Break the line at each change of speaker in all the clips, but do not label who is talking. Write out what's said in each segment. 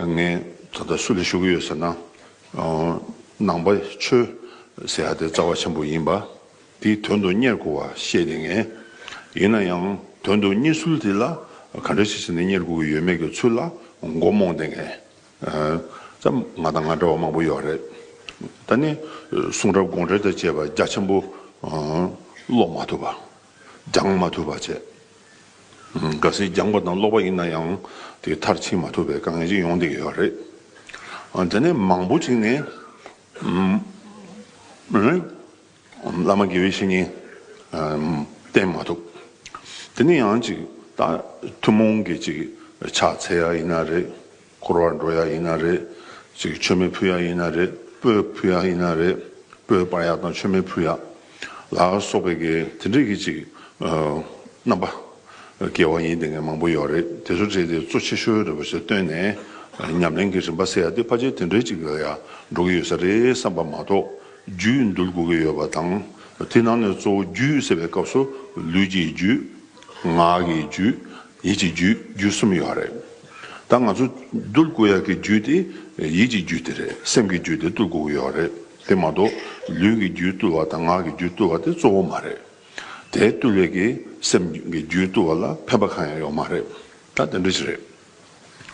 ངས་ད་ལྟ་སུ་ལ་ཞུ་གི་ཡོད་ཟེར་ན། ནང་པ་ཆོས་ཟེར་ཡ་དེ་རྩ་བ་ཆེན་པོ་ཡིན་པ། དེའི་དོན་དུ་གཉེར་དགོས་བ་ཤེས་ནི་ངེས། ཡིན་ན་ཡང་དོན་དུ་གཉེར་ཚུལ་དེ་ལ་ག་འདྲ་ཞིག་བྱས་ནས་གཉེར་དགོས་ཀྱི་ཡོད་མེད་ཀྱི་ཚུལ་ལ་མགོ་རྨོངས་ཏེ་ངས། ད་ང་དང་ང་འདྲ་བ་མང་པོ་ཡོད་རེད། ད་ནི་གསུང་རབ་དགོངས་འགྲེལ་དང་བཅས་པ་རྒྱ་ཆེན་པོ་ཀློག་མ་ཐུབ་པ། སྦྱང་མ་ཐུབ་པ་བྱས། ག་སྲིད་སྦྱངས་པ་དང་ཀློག་པ་ཡིན་ན་ཡང་དེ་མཐར་ཕྱིན་མ་ཐུབ་པའི་དཀའ་ངལ་ཅིག་ཡོང་བསྡད་ཡོད་རེད། དེ་ནས་མང་པོ་ཞིག་ནས། བླ་མ་དགེ་བའི་བཤེས་གཉེན་བསྟེན་མ་ཐུབ། དེ་ནས་ཡང་ཅིག་ཐུན་མོང་གི་ཅིག་ཕྱག་འཚལ་ཡ་ཡིན་ན་རེད། འཁོར་བར་འགྲོ་ཡག་ཡིན་ན་རེད། མཆོད་མེ་ཕུལ་ཡག་ཡིན་ན་རེད། སྤོས་ཕུལ་ཡག་ཡིན་ན་རེད། སྤོས་སྤར་ཡག་དང་མཆོད་མེ་ཕུལ་ཡག་ལ་སོགས་པའི་གེ་དེ་འདྲས་ཀྱི་ཅིག་རྣམ་པ་གེ་བ་ཡིན་དེ་ངས་མང་པོ་ཡོག་རེད་དེ་ཚོ་བྲིས་ཏེ་གཙོ་ཆེ་ཤོས་རེད་པ་ཞིག་བཏོན་ནས་ཉམས་ལེན་གྱི་རིམ་པ་སེ་ཡག་དེ་ཕ་ཆེ་དེ་འདྲས་ཅིག་ལ་ཡག་འགྲོ་གི་ཡོད་ས་རེད་བསམ་པ་མ་གཏོགས་རྒྱུད་འདུལ་དགོས་ཀྱི་ཡོད་པ་དང་དེ་ནང་ནས་གཙོ་བོ་རྒྱུད་ཟེར་བའི་སྐབས་སུ་ལུས་ཀྱི་རྒྱུད། ངག་གི་རྒྱུད། ཡིད་ཀྱི་རྒྱུད་རྒྱུད་གསུམ་ཡོད་རེད། ད་ང་ཚོ་གདུལ་དགོས་ཡ་གི་རྒྱུད་དེ་ཡིད་ཀྱི་རྒྱུད་དེ་རེད་སེམས་ཀྱི་རྒྱུད་དེ་གཏུལ་དགོས་ཀྱི་ཡོད་རེད་དེ་མ་གཏོགས་ལུས་ཀྱི་རྒྱུད་གཏུལ་བ་དང་ངག་གི་རྒྱུད་གཏུལ་བ་དེ་གཙོ་བོ་མ་རེད། དེ་གཏུལ་བའི་གི་སེམས་ཀྱི་རྒྱུད་གཏུལ་བ་ལ་ཕན་པ་གང་ཡང་ཡོད་མ་རེད། ད་དེ་འདྲ་ཞིག་རེད།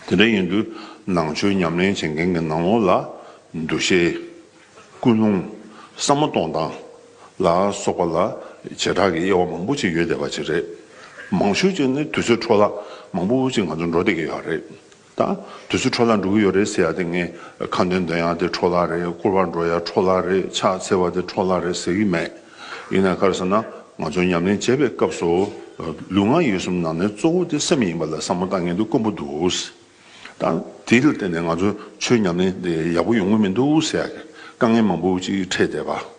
དེ་འདྲ་ཡིན་དུས་ནང་ཆོས་ཉམས་ལེན་བྱེད་མཁན་གྱི་ནང་ལོགས་ལ་འདུ་ཤེས། ཀུན་སློང། བསམ་མ་སྟོང་དང། ལ་སོགས་པ་ལ་བྱེ་བྲག་གི་དབྱེ་བ་མང་པོ་ཅིག་ཡོད་བསྡད་པ་ཅིག་རེད། མང་ཤོས་ཅིག་ནི་དུས་ཚོད་འཕྲོ་བརླག་མང་པོ་ཅིག་ང་ཚོ་འགྲོ་བསྡད་ཀྱི་ཡོད་རེད་ད། དུས་ཚོད་འཕྲོ་བརླག་འགྲོ་གི་ཡོད་རེད་ཟེར་ཡག་དེ་ངས་ཁ་འདོན་འདོན་ཡག་དེ་འཕྲོ་བརླག་རེད་སྐོར་བར་འགྲོ་ཡག་འཕྲོ་བརླག་རེད་ཕྱག་འཚལ་བ་དེ་འཕྲོ་བརླག་རེད་ཟེར་གྱི་མེད། ཡིན་ནའི་ཁར་ཟེར་ན་ང་ཚོ་ཉམས་ལེན་བྱེད་པའི་སྐབས་སུ། ལུས་ངག་ཡིད་གསུམ་ནང་ནས་གཙོ་བོ་དེ་སེམས་ཡིན་པ་ལ་བསམ་བློ་བཏང་མཁན་དེ་དཀོན་པོ་འདུག། དང། དེ་ལ་བརྟེན་ནས་ང་ཚོའི་ཆོས་ཉམས་ལེན་དེ་ཡག་པོ་ཡོང་གི་མི་འདུག་ཟེར་ཡག་གི་དཀའ་ངལ་མང་པོ་ཅིག་འཕྲད་བསྡད་པ།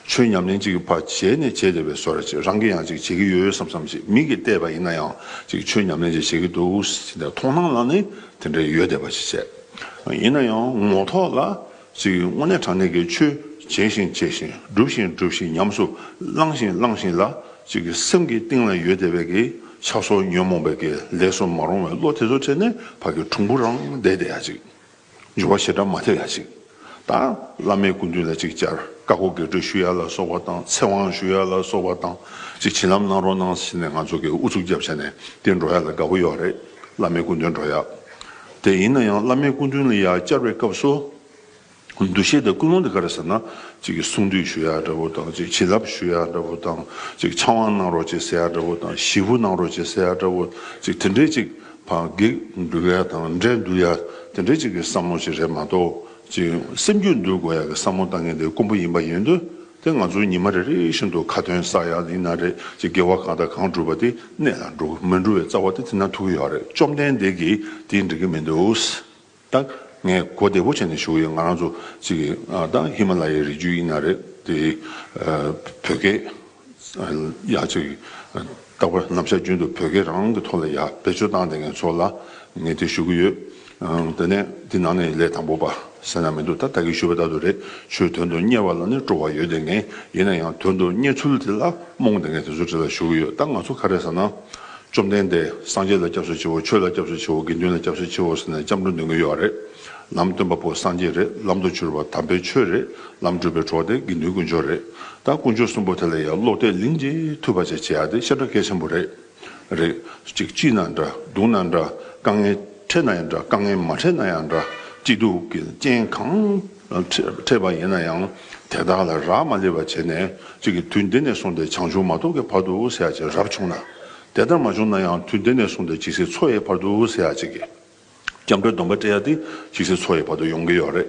ཆོས་ཉམས་ལེན་ཅིག་གི་བར་བྱས་ནས་བྱས་བསྡད་པའི་སོ་ར་ཅིག་རང་གིས་ཡང་ཅིག་བྱེད་ཀྱི་ཡོད་བསམ་བསམ་ཅིག་མིག་གིས་བལྟས་པ་ཡིན་ན་ཡང་ཅིག་ཆོས་ཉམས་ལེན་ཅིག་བྱེད་ཀྱི་འདུག་ཟེར་བསྡད་མཐོང་སྣང་ལ་ནི་དེ་འདྲ་ཡོད་བསྡད་པ་ཞིག་བྱས། ཡིན་ན་ཡང་ངོ་ཐོག་ལ། ཚིག་དངོས་གནས་དྲང་གནས་ཀྱི་ཆོས་བྱས་ཤིང་བྱས་ཤིང་བསྒྲུབས་ཤིང་བསྒྲུབས་ཤིང་ཉམས་སུ་བླངས་ཤིང་བླངས་ཤིང་ལ་ཅིག་གི་སེམས་ཀྱི་གཏིང་ལ་ཡོད་བདེ་བས་ཀྱི་ཆགས་སོགས་ཉོན་མོངས་པས་ཀྱི་ལས་སུ་མ་རུང་བའི་བློ་དེ་ཚོ་བྲལ་ནས་བར་གྱི་གྲུང་པོ་རང་བདེ་བདེ་ཡ་ཅིག་འབྱུང་བ་ཞེ་དྲག་མ་ཐེབས་ཡ་ཅིག་དང་བླ་མའི་སྐུ་མདུན་ལ་ཅིག་ཅར་བཀའ་བསྒོ་དགེ་སྤྲོད་ཞུ་ཡ་ལ་སོགས་པ་དང་ཚེ་དབང་ཞུ་ཡ་ལ་སོགས་པ་དང་ཅིག་བྱིན་རླབས་གནང་རོགས་གནང་ཞེས་ནས་ང་ཚོ་གི་ཨུ་ཚུགས་རྒྱབ་བྱས་ནས་དེ་འགྲོ་ཡ་ལ་དགའ་བོ་ཡོད་རེད་བླ་མའི་སྐུ་མདུན་འགྲོ་ཡ། དེ་ཡིན་ན་ཡང་བླ་མའི་སྐུ་མདུན་ལ་ཡང་བསྐྱར་བའི་སྐབས་སུ། འདུ་ཤེས་དང་ཀུན་སློང་འདི་ག་རེ་ཟེར་ན། གསུང་བསྡུས་ཞུ་ཡག་འདྲ་བོ་དང་བྱིན་རླབས་ཞུ་ཡག་འདྲ་བོ་དང། ཕྱག་དབང་གནང་རོགས་ཅེས་ཟེར་ཡག་འདྲ་བོ་དང་གཞི་བུ་གནང་རོགས་ཅེས་ཟེར་ཡག་འདྲ་བོ། དེ་འདྲའི་ཅིག་བགེགས་འདུལ་ཡ་དང་འདྲེ་འདུལ་ཡ་དེ་འདྲའི་ཅིག་གི་བསམ་བློ་ཞིག་རེད་མ་གཏོགས། སེམས་རྒྱུད་འདུལ་དགོས་ཡ་གི་བསམ་བློ་བཏང་མཁན་དེ་དཀོན་པོ་ཡིན་པ་ཡིན་དུས་དེ་ང་ཚོ་ཉི་མ་རེ་རེ་བཞིན་དུ་ཁ་དོན་ཟ་ཡག་ཡིན་ན་རེད་ཅེས་དགེ་བ་གང་དང་གང་བསྒྲུབས་པ་དེ་གནད་ལ་འགྲོ་གི་མི་འགྲོ་བའི་རྩ་བ་དེ་དེ་ན་ཐུག་གི་ཡོད་རེད་བཅོམ་ལྡན་འདས་ཀྱིས་དེ་འགྲིག་གི་མི་འདུག་ད་ངས་གོ་བདེ་པོ་བྱས་ནས་ཞུ་ཡི་ང་རང་ཚོ་ཅིག་ད་ཧི་མ་ལ་ཡའི་རི་རྒྱུད་ཡིན་ན་རེད་དེ་བོད་སྐད་ཡག་ཅིག་བཏགས་པ་ནམ་ཞར་རྒྱུན་དུ་བོད་སྐད་རང་གི་ཐོག་ལ་ཡག་བེད་སྤྱོད་བཏང་སྟེ་ངས་ཚོ་ལ་ངས་དེ་ཞུ་གི་ཡོད། དེ་ནས་འདི་ནང་ནས་ལས་དང་པོ་པ་ཟེར་ན་མི་འདུག་ད་ད་གིས་ཞུས་པ་ལྟར་དུ་རེད་ཆོས་དོན་དུ་གཉེར་བ་ལ་ནི་སྤྲོ་བ་ཡོད་དེ་ངེས་ཡིན་ན་ཡང་དོན་དུ་གཉེར་ཚུལ་དེ་ལ་རྨོངས་དེ་ངས་དེ་ཚོ་དྲི་ལ་ཞུ་གི་ཡོད་ད་ང་ཚོ་ག་རེ་ཟེར་ན། བཅོམ་ལྡན་འདས་སངས་རྒྱས་ལ་སྐྱབས་སུ་མཆིའོ་ཆོས་ལ་སྐྱབས་སུ་མཆིའོ་དགེ་འདུན་ལ་སྐྱབས་སུ་མཆིའོ་ཟེར་ནས་སྐྱབས་འགྲོ་འདོན་གི་ཡོད་རེད། ལམ་སྟོན་པ་པོ་སངས་རྒྱས་རེད་ལམ་དུ་གྱུར་པ་དམ་པའི་ཆོས་རེད་ལམ་བསྒྲུབ་པའི་གྲོགས་དེ་དགེ་འདུན་དཀོན་མཆོག་རེད་ད་དཀོན་མཆོག་གསུམ་པོ་དེ་ལ་ཡང་ལོག་ལྟས་ལིང་རྗེ་ཐུབ་པ་བཅས་བྱེད་ཡག་དེ་ཤ་ཁྲག་གལ་ཆེན་པོ་རེད། རེད། གཅིག་སྐྱིད་ན་འདྲ་སྡུག་ན་འདྲ་དཀའ་ངལ་འཕྲད་ན་ཡང་འདྲ་དཀའ་ངལ་མ་འཕྲད་ན་ཡང་འདྲ་སྐྱིད་སྡུག་གི་རྐྱེན་གང་འཕྲད་པ་ཡིན་ན་ཡང་དེ་དག་ལ་རག་མ་ལས་པ་བྱས་ནས་གཅིག་གིས་དུས་འདི་ནས་བཟུང་སྟེ་བྱང་ཆུབ་མ་ཐོབ་ཀྱི་བར་དུ་སེ་ཡ་གཅིག་རབ་བྱུང་ན། དེ་ལྟར་མ་བྱུང་ན་ཡང་དུས་འདི་ནས་བཟུང་སྟེ་ཇི་སྲིད་འཚོ་ཡའི་བར་དུ་སེ་ཡ་གཅིག་གིས། སྐྱབས་འགྲོའི་སྡོམ་པ་སྤྲད་ཡ་དེ་ཅིག་སྲིད་འཚོ་ཡི་བར་དུ་ཡོང་གི་ཡོད་རེད།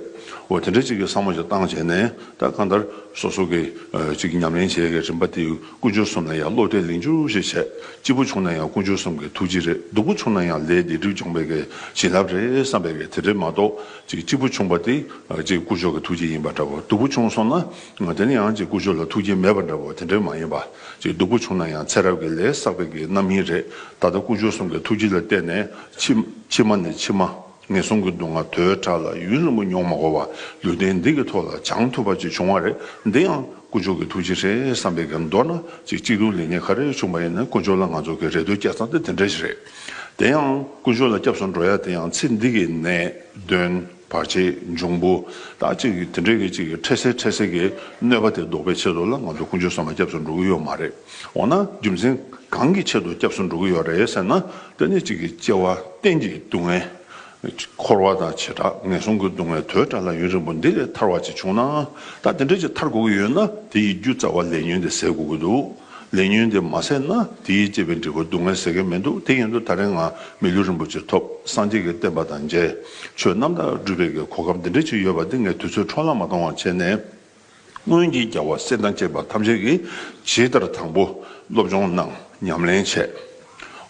འོ་དེ་འདྲའི་ཅིག་གི་བསམ་བློ་ཞིག་བཏང་བྱས་ནས་ད་གང་ལྟར་སོ་སོ་གི་ཅིག་གི་ཉམས་ལེན་བྱེད་ཀྱི་རིམ་པ་དེ་ཀུན་སྤྱོད་གསུམ་ལ་ཡང་བློ་གཏད་ལིང་ཅུར་ཞིག་བྱས་སྐྱིད་པོ་བྱུང་ན་ཡང་ཀུན་སྤྱོད་གསུམ་གི་ཐུགས་རྗེ་རེད་སྡུག་པོ་བྱུང་ན་ཡང་ལས་འདི་སྒྲིབ་སྦྱོང་བའི་གི་བྱིན་རླབས་རེད་བསམ་པའི་གི་དེ་འདྲ་མ་གཏོགས་ཅིག་སྐྱིད་པོ་བྱུང་བ་དེ་ཅིག་ཀུན་སྤྱོད་ཀྱི་ཐུགས་རྗེ་ཡིན་པ་འདྲ་བོ་སྡུག་པོ་བྱུང་སོང་ན་དེ་ནི་ཡང་ཅིག་ཀུན་སྤྱོད་ལ་ཐུགས་རྗེ་མེད་པ་འདྲ་བོ་དེ་འདྲ་མ་ཡིན་པ་ཅིག་སྡུག་པོ་བྱུང་ན་ཡང་ཚེ་རབས་ཀྱི་ལས་བསགས་པའི་གི་རྣམ་སྨིན་རེད་ད་ལྟ་ཀུན་སྤྱོད་གསུམ་གི་ཐུགས་རྗེ་ལ་བལྟས་ནས་ཕྱི་མ་ནས་ཕྱི་མ་ངན་སོང་གི་སྡུག་བསྔལ་དོའི་དགྲ་ལ་ཡུན་རིང་པོ་མྱོང་མ་གོ་བར་ལུས་རྟེན་འདི་གི་ཐོག་ལ་སྦྱང་ཐུབ་པ་ཅིག་བྱུང་བ་རེད་འདི་ཡང་དཀོན་མཆོག་གི་ཐུགས་རྗེ་རེད་བསམ་པའི་གེ་མདོར་ན་ཅིག་གཅིག་ཏུ་ལེགས་ཉེས་ག་རེ་བྱུང་བ་ཡིན་ན་དཀོན་མཆོག་ལ་ང་ཚོ་གི་རེ་འདོད་སྐྱེད་ཚང་དེ་དེ་འདྲ་ཞིག་རེད་དེ་ཡང་དཀོན་མཆོག་ལ་སྐྱབས་སུ་འགྲོ་ཡ་དེ་ཡང་ཚེ་འདི་གི་ནད་གདོན། བར་ཆད་འབྱུང་པོ་དག་ཅིག་གིས་དེ་འདྲའི་གེགས་ཅིག་གིས་འཕྲལ་སེལ་འཕྲལ་སེལ་གྱི་གནོད་པ་དེ་ཟློག་པའི་ཆེད་དུ་ལ་ང་ཚོ་ཀུན་སྤྱོད་ཟམ་པ་སྐྱབས་སུ་འགྲོ་གི་ཡོད་མ་རེད། འོ་ན་རྒྱུ་མཚན་གང་གི་ཆེད་དུ་སྐྱབས་སུ་འགྲོ་གི་ཡོད་རེད་ཟེར་ན་དེ་ནི་གཅིག་གིས་སྐྱེ་བ་གཏན་གྱི་སྡུག་བསྔལ། འཁོར་བ་དང་བྱེ་བྲག་ངན་སོང་གི་སྡུག་བསྔལ་དོས་དྲག་ལ་ཡུན་རིང་པོ་འདི་ལས་ཐར་བ་ཅིག་བྱུང་ནའང་ད་དེ་འདྲ་ཅིག་ཐར་དགོས་ཀྱི་ཡོད་ན་དེ་ཡི་རྒྱུ་རྩ་བ་ལས་ཉོན་དེ་ཟད་དགོས་ཀྱི་འདུག་ལས་ཉོན་དེ་མ་ཟད་ན་དེའི་བཅས་པའི་འབྲས་བུ་སྡུག་བསྔལ་ཟད་མཁན་མི་འདུག་དེ་ཡིན་དུ་ད་རེས་ང་མི་ལུས་རིན་པོ་ཆེ་ཐོབ་སངས་རྒྱས་ཀྱི་བསྟན་པ་དང་མཇལ་ཆོས་རྣམ་དག་སྒྲུབ་པའི་གོ་སྐབས་འདི་འདྲ་ཞིག་ཡོད་པ་འདི་ངས་དུས་ཚོད་འཕྲོ་བརླག་མ་གཏོང་བར་བྱས་ནས། སྔོན་གྱི་རྒྱལ་བ་སྲས་དང་བཅས་པ་ཐམས་ཅད་ཀྱིས་ཇི་ལྟར་དང་པོ་སློབ་སྦྱོང་གནང་ཉམས་ལེན་བྱས།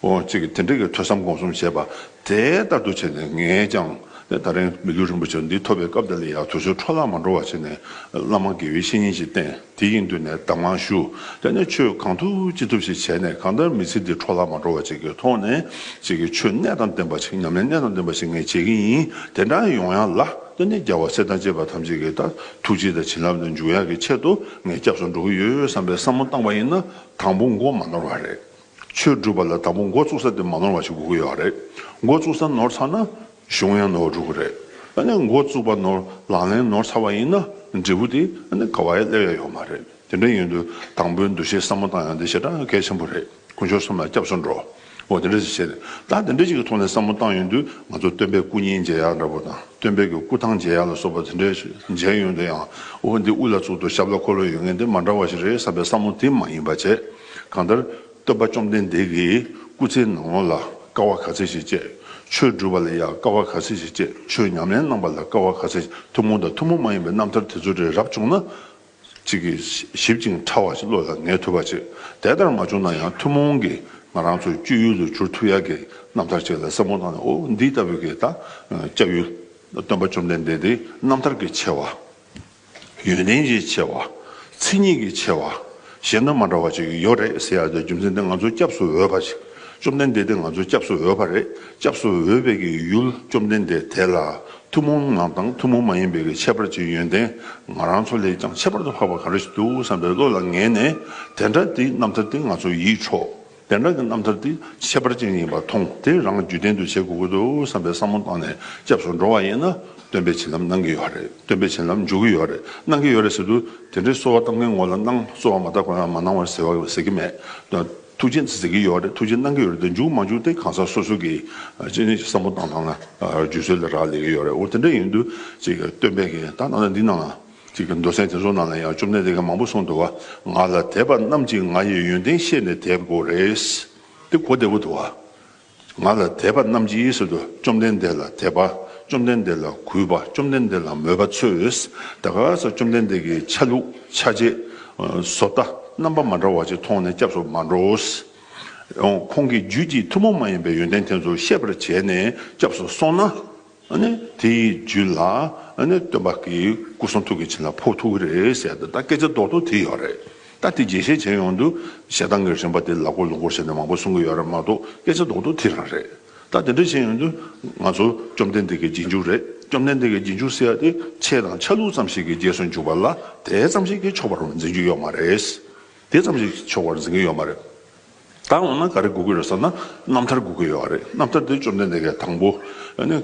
ཨོ་ཅིག་དེ་འདྲ་གི་ཐོས་བསམ་སྒོམ་གསུམ་བྱས་པ་དེ་ལྟར་དུ་བྱས་ནས་ངས་ཀྱང་ད་རིང་མི་འགྱུར་རིན་པོ་ཆེ་འདི་ཐོབ་པའི་སྐབས་འདི་ལ་ཡང་དུས་ཚོད་འཕྲོ་བརླག་མ་འགྲོ་བ་བྱས་ནས་བླ་མ་དགེ་བའི་བཤེས་གཉེན་ཞིག་བསྟེན་དེ་ཡི་མདུན་ནས་གདམས་ངག་ཞུ་དེ་ནས་ཆོས་གང་ཐུབ་ཅི་ཐུབ་ཞིག་བྱས་ནས་གང་ལྟར་མི་ཚེ་འདི་འཕྲོ་བརླག་མ་འགྲོ་བ་བྱེད་ཀྱི་ཐོག་ནས་བྱེད་ཀྱི་ཆོས་གནད་དང་ལྡན་པ་ཞིག་ཉམས་ལེན་གནད་དང་ལྡན་པ་ཞིག་ངས་བྱེད་ཀྱི་ཡིན་དེ་འདྲ་ཡོང་ཡག་ལ་དེ་ནས་རྒྱལ་བ་སྲས་དང་བཅས་པ་ཐམས་ཅད་ཀྱི་ད་ཐུགས་རྗེ་དང་བྱིན་རླབས་དང་འཇུག་ཡག་གི་ཆེད་དུ་ངས་སྐྱབས་སུ་འགྲོ་གི་ཡོད་བསམ་པའི་བསམ་བློ་བཏང་བ་ཡིན་ན་དང་པོ་མགོ་མ་ནོར་བ་རེད། ཆོས་སྒྲུབ་པ་ལ་དང་པོ་འགོ་བཙུགས་ས་དེ་མ་ནོར་བ་ཞིག་དགོས་ཀྱི་ཡོད་རེད། འགོ་བཙུགས་ས་ནོར་ཚར་ན་གཞུང་ཡང་ནོར་འགྲོ་གི་རེད། ཨ་ནི་འགོ་བཙུགས་པ་ནོར་ལག་ལེན་ནོར་ཚར་བ་ཡིན་ན་འབྲས་བུ་དེ་ཨ་ནི་ག་བ་ཡང་སླེབས་ཡ་ཡོད་མ་རེད། དེ་འདྲ་ཡིན་དུས་དང་པོའི་འདུ་ཤེས་སྲ་མོ་བཏང་ཡང་དེ་ཞེ་དྲག་གལ་ཆེན་པོ་རེད་དཀོན་མཆོག་གསུམ་ལ་སྐྱབས་སུ་འགྲོ། འོ་དེ་འདྲ་ཞིག་བྱེད། ད་དེ་འདྲ་ཞིག་གི་ཐོག་ནས་སྲ་མོ་བཏང་ཡོད་དུས་ང་ཚོ་སྟོན་པའི་སྐུ་བརྙན་མཇལ་ཡག་འདྲ་པོ་དང་སྟོན་པའི་གི་སྐུ་ཐང་མཇལ་ཡག་ལ་སོགས་པ་དེ་འདྲ་ཞིག་མཇལ་ཡོད་དུས་ཡང་འོ་འདི་དབུ་ལ་བཙུགས་འདུག་ཞབས་ལ་འཁོར་ལོ་ཡོད་ངེས་འདི་མ་འདྲ་བ་ཞིག་རེད་བསམ་པའི་སྲ་མོ་དེ་མ་ཡིན་པ་བྱེད། གང་ལྟར་སྟོན་པ་བཅོམ་ལྡན་འདས་ཀྱིས་སྐུ་ཚེའི་ནང་ལོངས་ལ་དཀའ་བ་ག་ཚད་ཞིག་སྤྱད། ཆོས་བསྒྲུབ་པ་ལ་ཡང་དཀའ་བ་ག་ཚད་ཞིག་སྤྱད་ཆོས་ཉམས་ལེན་གནང་བ་ལ་དཀའ་བ་ག་ཚད་ཞིག་ཐུན་མོང་དང་ཐུན་མོང་མ་ཡིན་པའི་རྣམ་ཐར་དེ་ཚོ་རེ་རབ་བྱུང་ན། ཅིག་གིས་ཞིབ་ཅིང་ཕྲ་བ་ཞིག་བློ་ལ་ངེས་ཐུབ་པ་བྱེད། དེ་ལྟར་མ་བྱུང་ན་ཡང་ཐུན་མོང་གི་ང་རང་ཚོའི་སྤྱོད་ཡུལ་དུ་གྱུར་ཐུབ་ཡག་གི་རྣམ་ཐར་ཅིག་ལ་བསམ་བློ་བཏང་ནས་འོ་འདི་ལྟ་བུ་གི་ད་སྤྱད་ཡུལ། སྟོན་པ་བཅོམ་ལྡན་འདས་འདི་རྣམ་ཐར་གྱི་ཆེ་བ། ཡོན་ཏན་གྱི་ཆེ་བ། མཚན་ཉིད་ཀྱི་ཆེ་བ། གཞན་དང་མ་འདྲ་བ་ཅིག་ཡོད་རེད་ཟེར་ཡག་འདོད་རྒྱུ་མཚན་དེ་ང་ཚོ་སྐྱབས་སུ་འོས་པ་ཞིག་བཅོམ་ལྡན་འདས་དེ་ང་ཚོ་སྐྱབས་སུ་འོས་པ་རེད་སྐྱབས་སུ་འོས་པའི་གྱི་ཡུལ་བཅོམ་ལྡན་འདས་དེ་ལ་ཐུན་མོང་ངང་དང་ཐུན་མོང་མ་ཡིན་པའི་གྱི་ཁྱད་པར་གྱི་ཡོན་ཏན་ང་རང་ཚོ་ལས་ཀྱང་ཁྱད་པར་དུ་འཕགས་པ་གང་རེ་ཞིག་འདུག་བསམ་པའི་བློ་ལ་ངེས་ནས་དེ་འདྲ་དེའི་རྣམ་ཐར་དེ་ང་ཚོ་ཡིད་འཕྲོག། བདེན་དྲང་གི་རྣམ་ཐར་འདི་ཁྱད་པར་ཅན་ཡིན་པར་མཐོང་དེ་རང་བརྒྱུད་ལྡན་དུ་བྱེད་དགོས་ཀྱི་འདུག་བསམ་པའི་བསམ་བློ་བཏང་ནས་སྐྱབས་སུ་འགྲོ་བ་ཡིན་ན་སྟོན་པའི་བྱིན་རླབས་གནང་གི་ཡོད་རེད་སྟོན་པའི་བྱིན་རླབས་འཇུག་གི་ཡོད་རེད་གནང་གི་ཡོད་རེད་ཟེར་དུས་དེ་འདྲའི་གསོལ་བ་གཏམ་གྱི་ངོ་ལ་གནང་གསོལ་བ་མ་བཏབ་གོང་ཡང་མ་གནང་བར་ཟེར་བ་ཟེར་གྱི་མེད་དོ་ཐུགས་རྗེ་ཟེར་གྱི་ཡོད་རེད་ཐུགས་རྗེ་གནང་གི་ཡོད་རེད་འཇུག་མ་འཇུག་དེ་གང་ཟག་སོ་སོ་གྱིས་བསམ་བློ་བཏང་ཐང་ན་བརྒྱུད་སྲོལ་ལས་རག་ལས་ཀྱི་ཡོད་རེད་འོ་དེ་འདྲ་ཡིན་དུས་སྟོན་པས་གནང་ན་འདི་གནང་ན། ཅིག་གི་མདོ་ཚན་དེ་ཚོ་ནང་ལ་ཡང་བཅོམ་ལྡན་འདས་ཀྱིས་མང་པོ་གསུངས་འདུག་བ། ང་ལ་དད་པ་རྣམས་ཀྱིས་ང་ཡི་ཡོན་ཏན་ཤེས་ནས་དད་དགོས་རེད། འདི་གོ་བདེ་པོ་འདུག་བ། ང་ལ་དད་པ་རྣམས་ཀྱིས་ཟེར་དུས་བཅོམ་ལྡན་འདས་ལ་དད་པ་བཅོམ་ལྡན་འདས་ལ་གུས་པ་བཅོམ་ལྡན་འདས་ལ་མོས་པ་ཚོས་ད་ག་ས་བཅོམ་ལྡན་འདས་ཀྱི་ཆ་ལུགས་ཆ་བྱད་བཟོ་ལྟ་རྣམ་པ་མ་འདྲ་བ་ཅིག་མཐོང་ནས་སྐྱབས་སུ་མ་འགྲོའོ། ཁོང་གིས་རྒྱུད་ཀྱི་ཐུན་མོང་མ་ཡིན་པའི་ཡོན་ཏན་དེ་ཚོ་ཤེས་པར་བྱས་ནས་སྐྱབས་སུ་སོང་ན། དེ་ཡི་རྒྱུད་ལ་སྟོན་པ་གྱི་སྐུ་གསུང་ཐུགས་ཀྱི་བྱིན་རླབས་ཕོག་ཐུག་རེད་ཟེར་ཏེ་ད་སྐད་ཆ་རྡོག་རྡོག་དེ་ཡོད་རེད་ད་དེ་རྒྱས་བཤད་བྱེད་ཡོང་དུས་ཞེ་སྡང་གི་རིམ་པ་དེ་ལག་འཁོར་ལུག་འཁོར་ཞེས་ནས་མང་པོ་གསུང་གི་ཡོད་རེད་མ་གཏོགས་སྐད་ཆ་རྡོག་རྡོག་དེ་རང་རེད་ད་དེ་འདྲ་བྱེད་ཡོང་དུས་ང་ཚོ་བཅོམ་ལྡན་འདས་ཀྱི་རྗེས་འཇུག་རེད་བཅོམ་ལྡན་འདས་ཀྱི་རྗེས་འཇུག་ཟེར་ཏེ་ཆས་དང་ཆ་ལུགས་ཙམ་ཞིག་གི་རྗེས་སུ་འཇུག་པ་ལ་དེ་ཙམ་ཞིག་གིས་ཆོག་པར་འཛིན་རྒྱུ་ཡོད་མ་རེད། དེ་ཙམ་ཞིག་གིས་ཆོག་པར་འཛིན་གྱི་ཡོད་མ་རེད། ད་འོ་ན་ག་རེ་སྒུག་གི་རེད་ཟེར་ན་རྣམ་ཐར་སྒུག་གི་ཡོད་རེད་རྣམ་ཐར་དེ་བཅོམ་ལྡན་འདས་ཀྱི་དང་པོ་ནི།